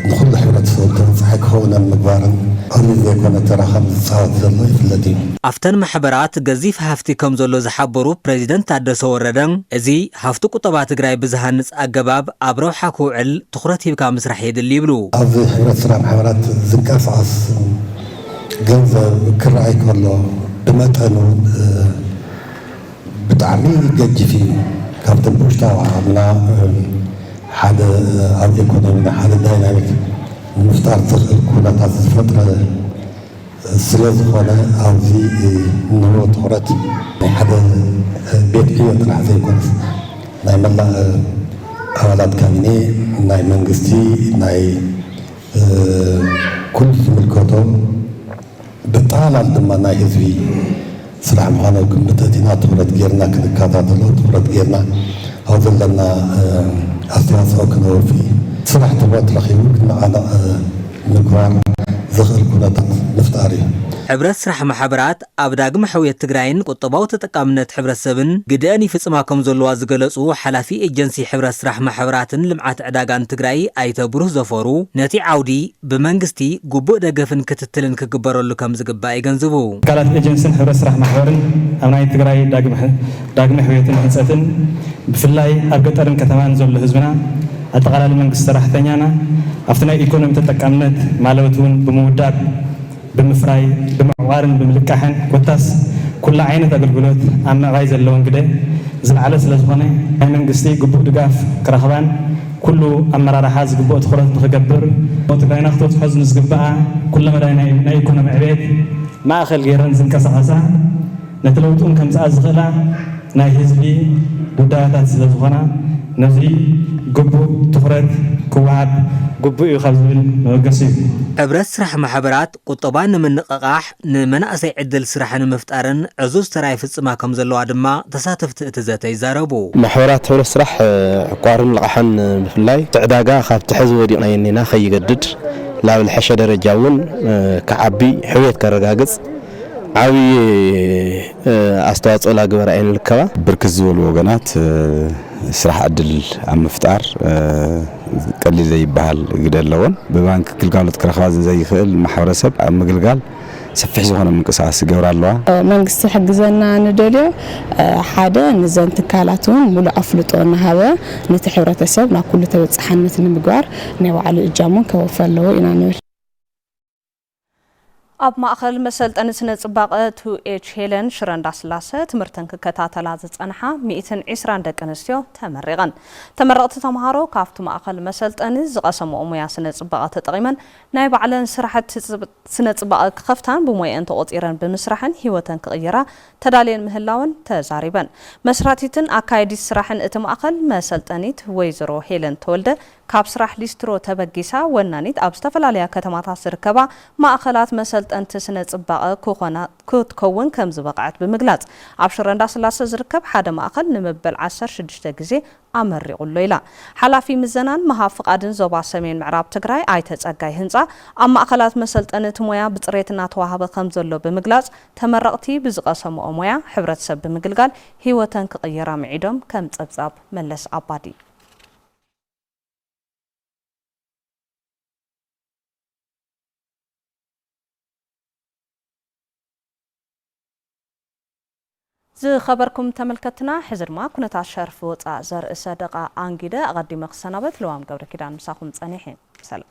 ንኩሉ ሕብረተሰብ ተበፃሒ ክኸውን ኣብ ምግባርን ቀሊል ዘይኮነ ተራ ከምዝፃወት ዘሎ ይፍለጥ እዩ። ኣብተን ማሕበራት ገዚፍ ሃፍቲ ከምዘሎ ዝሓበሩ ፕረዚደንት ታደሰ ወረደ፣ እዚ ሃፍቲ ቁጠባ ትግራይ ብዝሃንፅ ኣገባብ ኣብ ረብሓ ክውዕል ትኹረት ሂብካ ምስራሕ የድሊ ይብሉ። ኣብዚ ሕብረት ስራሕ ማሕበራት ዝንቀሳቐስ ገንዘብ ክረኣይ ከሎ ብመጠን እውን ብጣዕሚ ገጂፍ እዩ። ካብቶም ብውሽጣዊ ዓቕምና ሓደ ኣብ ኢኮኖሚና ሓደ ዳይናሚክ ንምፍጣር ዘኽእል ኩነታት ዝፈጥረ፣ ስለ ዝኾነ ኣብዚ እንህቦ ትኹረት ናይ ሓደ ቤት ዕዮ ጥራሕ ዘይኮነስ ናይ መላእ ኣባላት ካቢኔ፣ ናይ መንግስቲ፣ ናይ ኩሉ ዝምልከቶ ብጠቓላል ድማ ናይ ህዝቢ፣ ስራሕ ምዃኑ ኣብ ግምት ኣእቲና ትኹረት ገይርና ክንከታተሎ ትኹረት ገይርና ኣብ ዘለና ኣስተዋፅኦ ክነወፊ ስራሕ ትኹረት ረኺቡ ክነቓነቕ ምግባር ዘኽእል ኩነታት ምፍጣር እዩ። ሕብረት ስራሕ ማሕበራት ኣብ ዳግመ ሕውየት ትግራይን ቁጠባዊ ተጠቃምነት ሕብረተሰብን ግደእን ይፍፅማ ከምዘለዋ ዝገለፁ ሓላፊ ኤጀንሲ ሕብረት ስራሕ ማሕበራትን ልምዓት ዕዳጋን ትግራይ ኣይተ ብሩህ ዘፈሩ ነቲ ዓውዲ ብመንግስቲ ግቡእ ደገፍን ክትትልን ክግበረሉ ከምዝግባእ የገንዝቡ። ትካላት ኤጀንስን ሕብረት ስራሕ ማሕበርን ኣብ ናይ ትግራይ ዳግመ ሕውየትን ህንፀትን ብፍላይ ኣብ ገጠርን ከተማን ዘሎ ህዝብና ኣጠቓላሊ መንግስቲ ሰራሕተኛና ኣብቲ ናይ ኢኮኖሚ ተጠቃምነት ማለትውን ብምውዳብ ብምፍራይ፣ ብምዕቋርን ብምልቃሕን ኮታስ ኩሉ ዓይነት ኣገልግሎት ኣብ ምዕባይ ዘለወን ግደ ዝለዓለ ስለዝኾነ ናይ መንግስቲ ግቡእ ድጋፍ ክረኽባን ኩሉ ኣመራርሓ ዝግብኦ ትኹረት ንኽገብር እሞ ትግራይና ክትበፅሖ ዝንዝግበኣ ኩለመዳይ ናይ ኢኮኖሚ ዕብየት ማእኸል ገይረን ዝንቀሳቐሳ ነቲ ለውጢውን ከምጽኣ ዝኽእላ ናይ ህዝቢ ጉዳያታት ስለዝኾና ነዙይ ግቡእ ትኹረት ክወሃብ ግቡእ እዩ ካብ ዝብል መበገሲ እዩ። ሕብረት ስራሕ ማሕበራት ቁጠባ ንምንቕቓሕ፣ ንመናእሰይ ዕድል ስራሕ ንምፍጣርን ዕዙዝ ተራ ይፍጽማ ከምዘለዋ ድማ ተሳተፍቲ እቲ ዘተ ይዛረቡ። ማሕበራት ሕብረት ስራሕ ዕቋርን ልቓሕን ብፍላይ እቲ ዕዳጋ ካብቲ ሕዚ ወዲቕናዮ እኒና ከይገድድ ናብ ልሐሸ ደረጃ እውን ክዓቢ፣ ሕውየት ከረጋግጽ፣ ዓብዪ ኣስተዋፅኦ ላግበራ እየን ልከባ። ብርክት ዝበሉ ወገናት ስራሕ ዕድል ኣብ ምፍጣር ቀሊል ዘይበሃል ግደ ኣለዎን። ብባንኪ ግልጋሎት ክረኽባ ዘይኽእል ማሕበረሰብ ኣብ ምግልጋል ሰፊሕ ዝኾነ ምንቅስቓስ ይገብራ ኣለዋ። መንግስቲ ክሕግዘና ንደልዮ ሓደ ንዘን ትካላት እውን ሙሉእ ኣፍልጦ እናሃበ ነቲ ሕብረተሰብ ናብ ኩሉ ተበፃሓነት ንምግባር ናይ ባዕሉ እጃሙ እውን ከወፊ ኣለዎ ኢና ንብል። ኣብ ማእኸል መሰልጠኒ ስነ ፅባቐ ቱኤች ሄለን ሽረ እንዳስላሰ ትምህርተን ክከታተላ ዝፀንሓ ሚእትን ዒስራን ደቂ ኣንስትዮ ተመሪቐን። ተመረቕቲ ተምሃሮ ካብቲ ማእኸል መሰልጠኒ ዝቐሰምኦ ሙያ ስነ ፅባቐ ተጠቒመን ናይ ባዕለን ስራሕቲ ስነ ፅባቐ ክኸፍታን ብሞየኣን ተቖፂረን ብምስራሕን ሂወተን ክቕይራ ተዳልየን ምህላወን ተዛሪበን። መስራቲትን ኣካያዲት ስራሕን እቲ ማእኸል መሰልጠኒት ወይዘሮ ሄለን ተወልደ ካብ ስራሕ ሊስትሮ ተበጊሳ ወናኒት ኣብ ዝተፈላለያ ከተማታት ዝርከባ ማእኸላት መሰልጠንቲ ስነ ፅባቐ ክኾና ክትከውን ከምዝበቕዐት ብምግላፅ ኣብ ሽረ እንዳስላሰ ዝርከብ ሓደ ማእኸል ንመበል ዓሰርተ ሽዱሽተ ግዜ ኣመሪቑ ኣሎ ኢላ። ሓላፊ ምዘናን ምሃብ ፍቓድን ዞባ ሰሜን ምዕራብ ትግራይ ኣይተ ፀጋይ ህንፃ ኣብ ማእኸላት መሰልጠኒ እቲ ሞያ ብፅሬት እናተዋሃበ ከምዘሎ ብምግላፅ ተመረቕቲ ብዝቐሰምኦ ሞያ ሕብረተሰብ ብምግልጋል ሂወተን ክቕይራ ምዒዶም ከም ፀብፃብ መለስ ኣባዲ። ዝኸበርኩም ተመልከትና ሕዚ ድማ ኩነታት ሸርፊ ወፃእ ዘርእሰ ደቓ ኣንጊደ ኣቐዲመ ክሰናበት ልዋም ገብረኪዳን ምሳኹም ፀኒሐ ሰላም።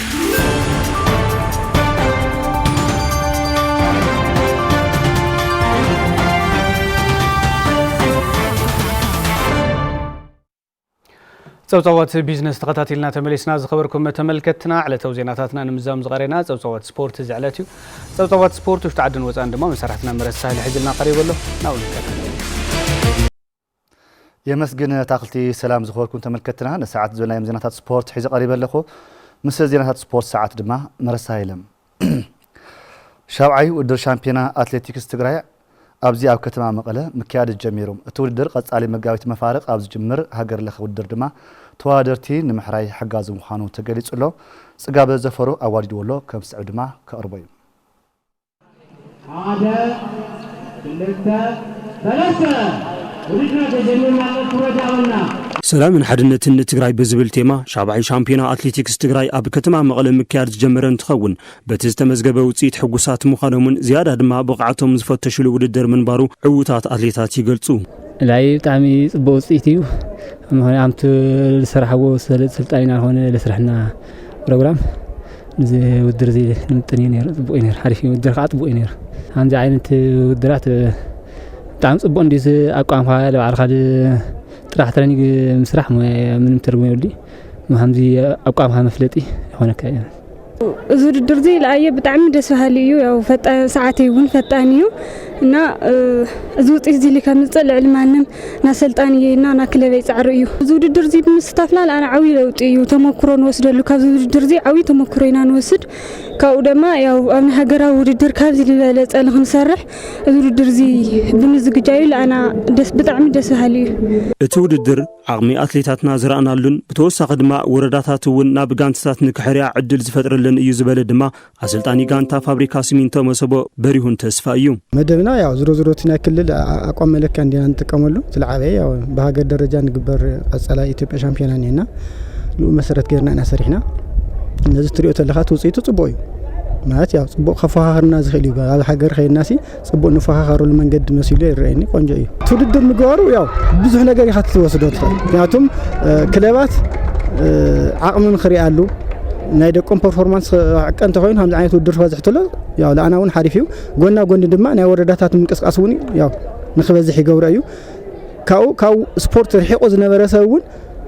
ፀብፃባት ቢዝነስ ተኸታቲልና ተመሊስና ዝኸበርኩም ተመልከትና ዕለታዊ ዜናታትና ንምዛም ዝቐረና ፀብፃባት ስፖርት እዚ ዕለት እዩ ፀብፃባት ስፖርት ውሽጢ ዓድን ወፃን ድማ መሰራሕትና መረሳ ሳህሊ ሕዝልና ቀሪቡ ኣሎ ናብኡ ንከታተል የመስግን ኣታኽልቲ ሰላም ዝኽበርኩም ተመልከትና ንሰዓት ዝበልናዮም ዜናታት ስፖርት ሒዘ ቀሪበ ኣለኹ ምስ ዜናታት ስፖርት ሰዓት ድማ መረሳ የለም ሻብዓይ ውድድር ሻምፒዮና ኣትሌቲክስ ትግራይ ኣብዚ ኣብ ከተማ መቐለ ምክያድ ጀሚሩ እቲ ውድድር ቐፃሊ መጋቢት መፋርቕ ኣብ ዝጅምር ሃገር ለኸ ውድድር ድማ ተወዳደርቲ ንምሕራይ ሓጋዚ ምዃኑ ተገሊፁ ኣሎ ፅጋበ ዘፈሩ ኣዋዲድዎ ኣሎ ከም ዝስዕብ ድማ ከቕርቦ እዩ ሓደ ክልተ ሰለስተ ውድድርና ተጀሚሩ ኣሎ ክብረት ያበልና። ሰላምን ሓድነትን ንትግራይ ብዝብል ቴማ ሻብዓይ ሻምፒዮና ኣትሌቲክስ ትግራይ ኣብ ከተማ መቐለ ምክያድ ዝጀመረ እንትኸውን በቲ ዝተመዝገበ ውፅኢት ሕጉሳት ምዃኖምን ዝያዳ ድማ ብቕዓቶም ዝፈተሽሉ ውድድር ምንባሩ ዕውታት ኣትሌታት ይገልፁ። ላይ ብጣዕሚ ጽቡቅ ውጽኢት እዩ ምክንያቱ ዝሰራሕዎ ሰልጣኒና ኮነ ለስርሕና ፕሮግራም ንዚ ውድር እዚ ንምጥን እዩ ነይሩ ፅቡቅ እዩ ነይሩ ሓሪፍ እዩ ውድር ከዓ ፅቡቅ እዩ ነይሩ ከምዚ ዓይነት ውድራት ብጣዕሚ ፅቡቅ እንዲ ኣቋምካ ባዕልካ ጥራሕ ትረኒግ ምስራሕ ምንም ትርጉም የብሉ ከምዚ ኣቋምካ መፍለጢ ይኮነካ እዩ እዚ ውድድር እዚ ለኣየ ብጣዕሚ ደስ በሃሊ እዩ ያው ሰዓት እውን ፈጣን እዩ እና እዚ ውፅኢት እዚ ከምፅእ ልዕሊ ማንም ናሰልጣኒ እየ እና ናክለበይ ፃዕሪ እዩ እዚ ውድድር እዚ ብምስታፍና ንኣና ዓብይ ለውጢ እዩ ተመክሮ ንወስደሉ ካብዚ ውድድር እዚ ዓብይ ተመክሮ ኢና ንወስድ ካብኡ ድማ ያው ኣብ ናይ ሃገራዊ ውድድር ካብዚ ዝበለፀ ንክንሰርሕ እዚ ውድድር እዚ ብምዝግጃዩ ንኣና ደስ ብጣዕሚ ደስ በሃሊ እዩ እቲ ውድድር ዓቕሚ ኣትሌታትና ዝረኣናሉን ብተወሳኺ ድማ ወረዳታት እውን ናብ ጋንቲታት ንክሕርያ ዕድል ዝፈጥረለን እዩ ዝበለ ድማ ኣሰልጣኒ ጋንታ ፋብሪካ ሲሚንቶ መሰቦ በሪሁን ተስፋ እዩ። መደብና ያው ዝሮ ዝሮ እቲ ናይ ክልል ኣቋም መለክያ እንዲና ንጥቀመሉ ዝለዓበየ ያው ብሃገር ደረጃ ንግበር ቀጸላይ ኢትዮጵያ ሻምፒዮና እኒና ንኡ መሰረት ገርና ኢና ሰሪሕና ነዚ ትሪኦ ተለኻ እቲ ውፅኢቱ ፅቡቅ እዩ ማለት ያው ፅቡቅ ከፈኻኽርና ዝኽእል እዩ ኣብ ሃገር ከይድናሲ ፅቡቅ ንፈኻኸረሉ መንገዲ መሲሉ ይረኣየኒ ቆንጆ እዩ ትውድድር ምግባሩ ያው ብዙሕ ነገር ኢኻ ትወስዶ ትኽእል ምክንያቱም ክለባት ዓቕሚ ንክሪኣሉ ናይ ደቆም ፐርፎርማንስ ዕቀ እንተኮይኑ ከምዚ ዓይነት ውድድር ክበዝሕትሎ ያው ለኣና እውን ሓሪፍ እዩ ጎና ጎኒ ድማ ናይ ወረዳታት ምንቅስቃስ እውን ያው ንክበዝሕ ይገብሮ እዩ ካብኡ ካብ ስፖርት ርሒቁ ዝነበረ ሰብ እውን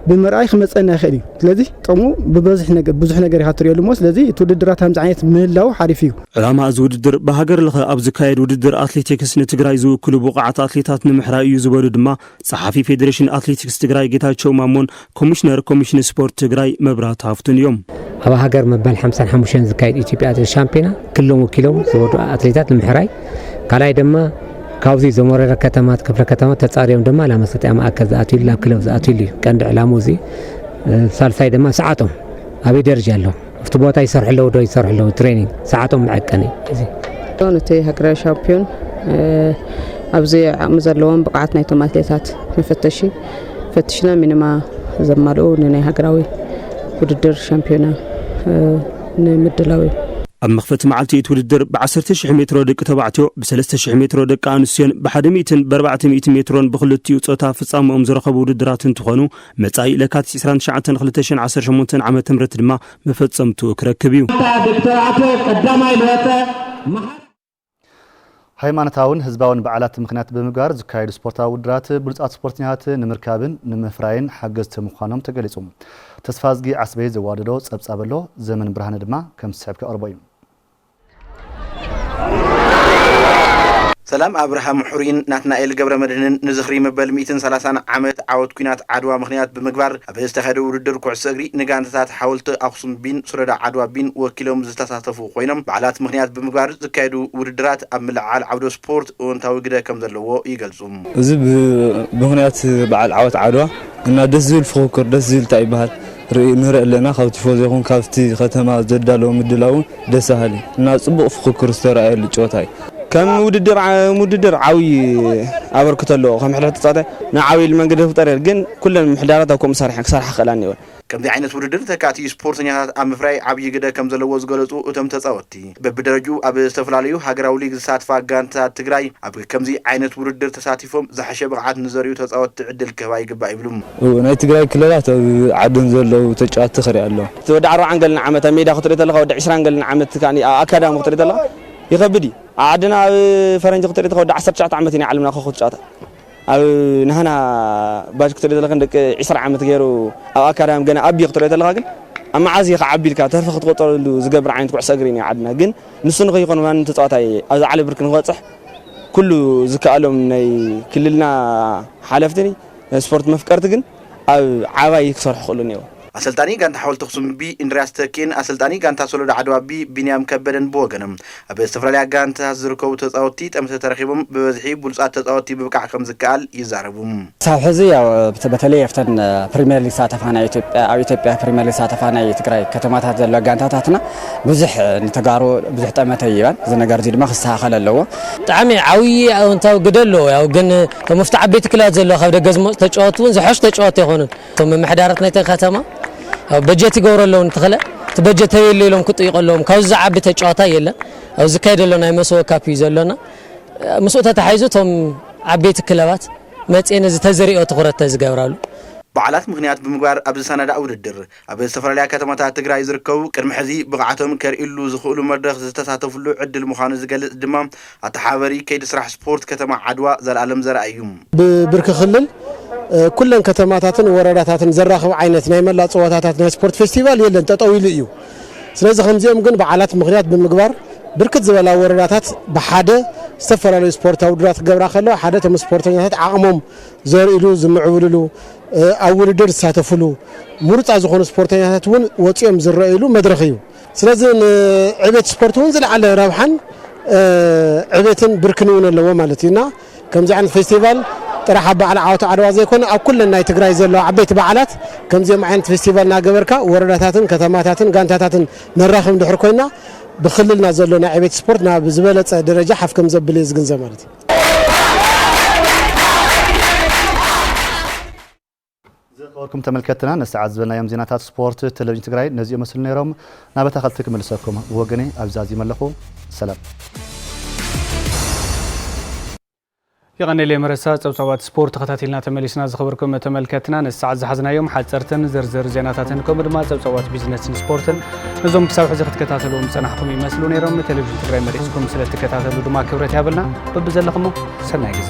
ብምርኣይ ክመፀና ይኽእል እዩ ስለዚ ጥቕሙ ብበዝሒ ነገ- ብዙሕ ነገር ኢኻ ትሪኦሉ እሞ ስለዚ እቲ ውድድራት ከምዚ ዓይነት ምህላው ሓሪፍ እዩ ዕላማ እዚ ውድድር ብሃገር ለኸ ኣብ ዝካየድ ውድድር ኣትሌቲክስ ንትግራይ ዝውክሉ ብቑዓት ኣትሌታት ንምሕራይ እዩ ዝበሉ ድማ ፀሓፊ ፌዴሬሽን ኣትሌቲክስ ትግራይ ጌታቸው ማሞን ኮሚሽነር ኮሚሽን ስፖርት ትግራይ መብራት ሃፍቱን እዮም። ኣብ ሃገር መበል 55 ዝካየድ ኢትዮጵያ ኣትሌት ሻምፒዮና ክልሎም ወኪሎም ዝወዱ ኣትሌታት ንምሕራይ ካልኣይ ድማ ካብዚ ዘሞረረ ከተማት ክፍለ ከተማት ተጻርዮም ድማ ናብ መሰጥያ ማእከል ዝኣትዩሉ ናብ ክለብ ዝኣትዩሉ እዩ ቀንዲ ዕላሙ እዚ ሳልሳይ ድማ ሰዓቶም ኣበይ ደረጃ ኣሎ ኣብቲ ቦታ ይሰርሑ ኣለዉ ዶ ይሰርሑ ኣለዉ ትሬኒንግ ሰዓቶም መዐቀኒ እዚ እቲ ሃገራዊ ሻምፒዮን ኣብዚ ዓቕሚ ዘለዎም ብቕዓት ናይቶም ኣትሌታት መፈተሺ ፈትሽና ሚኒማ ዘማልኡ ንናይ ሃገራዊ ውድድር ሻምፒዮና ንምድላው እዩ። ኣብ መኽፈቲ መዓልቲ እቲ ውድድር ብዓሰርተ ሽሕ ሜትሮ ደቂ ተባዕትዮ፣ ብሰለስተ ሽሕ ሜትሮ ደቂ ኣንስትዮን ብሓደ ሚእትን ብኣርባዕተ ሚእቲ ሜትሮን ብኽልቲኡ ፆታ ፍፃመኦም ዝረኸቡ ውድድራት እንትኾኑ መፃኢ ለካቲት ዕስራን ትሽዓተን ክልተ ሽሕን ዓሰርተ ሸሞንተን ዓመተ ምህረት ድማ መፈፀምትኡ ክረክብ እዩ። ሃይማኖታውን ህዝባውን በዓላት ምኽንያት ብምግባር ዝካየዱ ስፖርታዊ ውድድራት ብሉፃት ስፖርተኛታት ንምርካብን ንምፍራይን ሓገዝቲ ምዃኖም ተገሊፁ። ተስፋዝጊ ዓስበይ ዘዋደዶ ፀብፃብ ኣሎ፣ ዘመን ብርሃነ ድማ ከም ዝስዕብ ከቕርቦ እዩ። ሰላም ኣብርሃም ሑሪን ናትናኤል ገብረመድህንን ንዝኽሪ መበል ሚእትን ሰላሳን ዓመት ዓወት ኲናት ዓድዋ ምኽንያት ብምግባር ኣብ ዝተኻየደ ውድድር ኩዕሶ እግሪ ንጋንታታት ሓወልቲ ኣኽሱም ቢን ሶሎዳ ዓድዋ ቢን ወኪሎም ዝተሳተፉ ኮይኖም በዓላት ምኽንያት ብምግባር ዝካየዱ ውድድራት ኣብ ምልዕዓል ዓውደ ስፖርት እወንታዊ ግደ ከምዘለዎ ይገልፁ። እዚ ብምኽንያት በዓል ዓወት ዓድዋ እና ደስ ዝብል ፉኽክር ደስ ዝብል ታይ ይበሃል ንርኢ ኣለና ካብ ቲፎዞ ይኹን ካብቲ ከተማ ዘዳለዎ ምድላው እውን ደስ በሃሊ እና ፅቡቕ ፉኽክር ዝተርኣየሉ ጨወታ እዩ። ከም ውድድር ዓብዪ ኣበርክቶ ኣለዎ። ከም ሕድሕድ ተፃዋታይ ናብ ዓብዪ መንገዲ ክፍጠር ይኽእል፣ ግን ኩለን ምሕዳራት ኣብ ከምኡ ክሰርሓ ክኽእላ እኒኦን። ከምዚ ዓይነት ውድድር ተካእቲ ስፖርተኛታት ኣብ ምፍራይ ዓብዪ ግደ ከምዘለዎ ዝገለፁ እቶም ተፃወትቲ፣ በቢደረጅኡ ኣብ ዝተፈላለዩ ሃገራዊ ሊግ ዝሳትፋ ጋንታታት ትግራይ ኣብ ከምዚ ዓይነት ውድድር ተሳቲፎም ዝሓሸ ብቕዓት ንዘርእዩ ተፃወትቲ ዕድል ክህባ ይግባእ ይብሉ። ናይ ትግራይ ክለባት ኣብ ዓደን ዘለዉ ተጫወትቲ ክሪኢ ኣለዎ። እቲ ወዲ ዓርብዓን ገለን ዓመት ኣብ ሜዳ ክትሪኦ ተለኻ፣ ወዲ ዕስራን ገለን ዓመት ከኣ ኣብ ኣካዳሚ ክትሪኦ ተለኻ፣ ይኸብድ እዩ ኣብ ዓድና ኣብ ፈረንጂ ክትሪኢ ተለኻ ወዲ ዓሰርተ ትሽዓተ ዓመት እዩ ናይ ዓለምና ኮኾብ ትጫወታ ኣብ ናህና ባጅ ክትሪኢ ተለኻ ደቂ ዒስራ ዓመት ገይሩ ኣብ ኣካዳሚ ገና ኣቢ ክትሪኦ ተለኻ ግን ኣብ መዓዝ እዩ ክዓቢ ኢልካ ተርፊ ክትቆጠረሉ ዝገብር ዓይነት ኩዕሶ እግሪ እዩ ዓድና ግን ንሱ ንኸይኮን ማንም ተፃዋታይ ኣብዚ ዓለ ብርኪ ንክበፅሕ ኩሉ ዝከኣሎም ናይ ክልልና ሓለፍቲ ስፖርት መፍቀርቲ ግን ኣብ ዓባይ ክሰርሑ ክእሉ እኒኦ ኣሰልጣኒ ጋንታ ሓወልቲ ኣኽሱም ብ ኢንድርያስ ተኪእን ኣሰልጣኒ ጋንታ ሶሎዳ ዓድዋ ብ ቢንያም ከበደን ብወገኖም ኣብ ዝተፈላለያ ጋንታታት ዝርከቡ ተጻወትቲ ጠምተ ተረኺቦም ብበዝሒ ብሉጻት ተጻወትቲ ምብቃዕ ከምዝከኣል ይዛረቡ። ክሳብ ሕዚ ያው በተለይ ኣብተን ፕሪሚየር ሊግ ዝሳተፋ ናይ ኢትዮጵያ ኣብ ኢትዮጵያ ፕሪሚየር ሊግ ዝሳተፋ ናይ ትግራይ ከተማታት ዘለዋ ጋንታታትና ብዙሕ ንተጋሩ ብዙሕ ጠመተ ይህባን እዚ ነገር እዚ ድማ ክስተኻኸል ኣለዎ። ብጣዕሚ ዓብዪ ኣወንታዊ ግደ ኣለዎ ያው ግን እቶም ኣብቲ ዓበይቲ ክለባት ዘለዉ ካብ ደገ ዝመጹ ተጫወትቲ እውን ዝሐሹ ተጫወትቲ ኣይኮኑን። እቶም ምምሕዳራት ናይተን ከተማ ያው በጀት ይገብሩ ኣለዉ ንተኽለ እቲ በጀት ኣበይ ኣሎ ኢሎም ክጥይቁ ኣለዎም ካብዚ ዝዓቢ ተጨዋታይ የለን ኣብ ዝካየድ ዘሎ ናይ መሰወ ካፕ እዩ ዘሎና ምስኡ ተታሒዙ እቶም ዓበይቲ ክለባት መፅኤን እዚ ተዝሪኦ ትኹረት ተዝገብራሉ በዓላት ምኽንያት ብምግባር ኣብ ዝሰናዳእ ውድድር፣ ኣብ ዝተፈላለያ ከተማታት ትግራይ ዝርከቡ ቅድሚ ሕዚ ብቕዓቶም ከርእይሉ ዝኽእሉ መድረኽ ዝተሳተፍሉ ዕድል ምዃኑ ዝገልፅ ድማ ኣተሓባባሪ ከይዲ ስራሕ ስፖርት ከተማ ዓድዋ ዘልኣለም ዘርኣይ እዩ። ብብርኪ ክልል ኩለን ከተማታትን ወረዳታትን ዘራኽብ ዓይነት ናይ መላእ ፀወታታት ናይ ስፖርት ፌስቲቫል የለን ጠጠው ኢሉ እዩ። ስለዚ ከምዚኦም ግን በዓላት ምኽንያት ብምግባር ብርክት ዝበላ ወረዳታት ብሓደ ዝተፈላለዩ ስፖርታዊ ውድድራት ክገብራ ከለዋ ሓደ እቶም ስፖርተኛታት ዓቕሞም ዘርእሉ፣ ዝምዕብልሉ፣ ኣብ ውድድር ዝሳተፍሉ፣ ምሩፃት ዝኾኑ ስፖርተኛታት እውን ወፂኦም ዝረእይሉ መድረኽ እዩ። ስለዚ ንዕቤት ስፖርት እውን ዝለዓለ ረብሓን ዕቤትን ብርክን እውን ኣለዎ ማለት እዩ እና ከምዚ ዓይነት ፌስቲቫል ጥራሕ ኣብ በዓል ዓወት ዓድዋ ዘይኮነ ኣብ ኩለን ናይ ትግራይ ዘለዋ ዓበይቲ በዓላት ከምዚኦም ዓይነት ፌስቲቫል እናገበርካ ወረዳታትን ከተማታትን ጋንታታትን ነራኽብ እንድሕር ኮይና ብክልልና ዘሎ ናይ ዕቤት ስፖርት ናብ ዝበለፀ ደረጃ ሓፍ ከም ዘብል እየ ዝግንዘብ ማለት እዩ። ዝኸበርኩም ተመልከትትና ነስተዓዝበናዮም ዜናታት ስፖርት ተለቪዥን ትግራይ ነዚኦም መስሉ ነይሮም። ናብ ኣታኸልቲ ክምልሰኩም ብወገነይ ኣብዚ ዛዚመ ኣለኹ። ሰላም። የቐኔሌ መረሳ ጸብጻባት ስፖርት ተኸታቲልና ተመሊስና ዝኸበርኩም ተመልከትና ነዚ ሰዓት ዝሓዝናዮም ሓፀርትን ዝርዝር ዜናታትን ከምኡ ድማ ጸብጻባት ቢዝነስን ስፖርትን ነዞም ክሳብ ሕዚ ክትከታተልዎም ዝጸናሕኩም ይመስሉ ነይሮም ቴሌቭዥን ትግራይ መሪፅኩም ስለትከታተሉ ድማ ክብረት ያብልና በብዘለኹሞ ሰናይ ግዘ።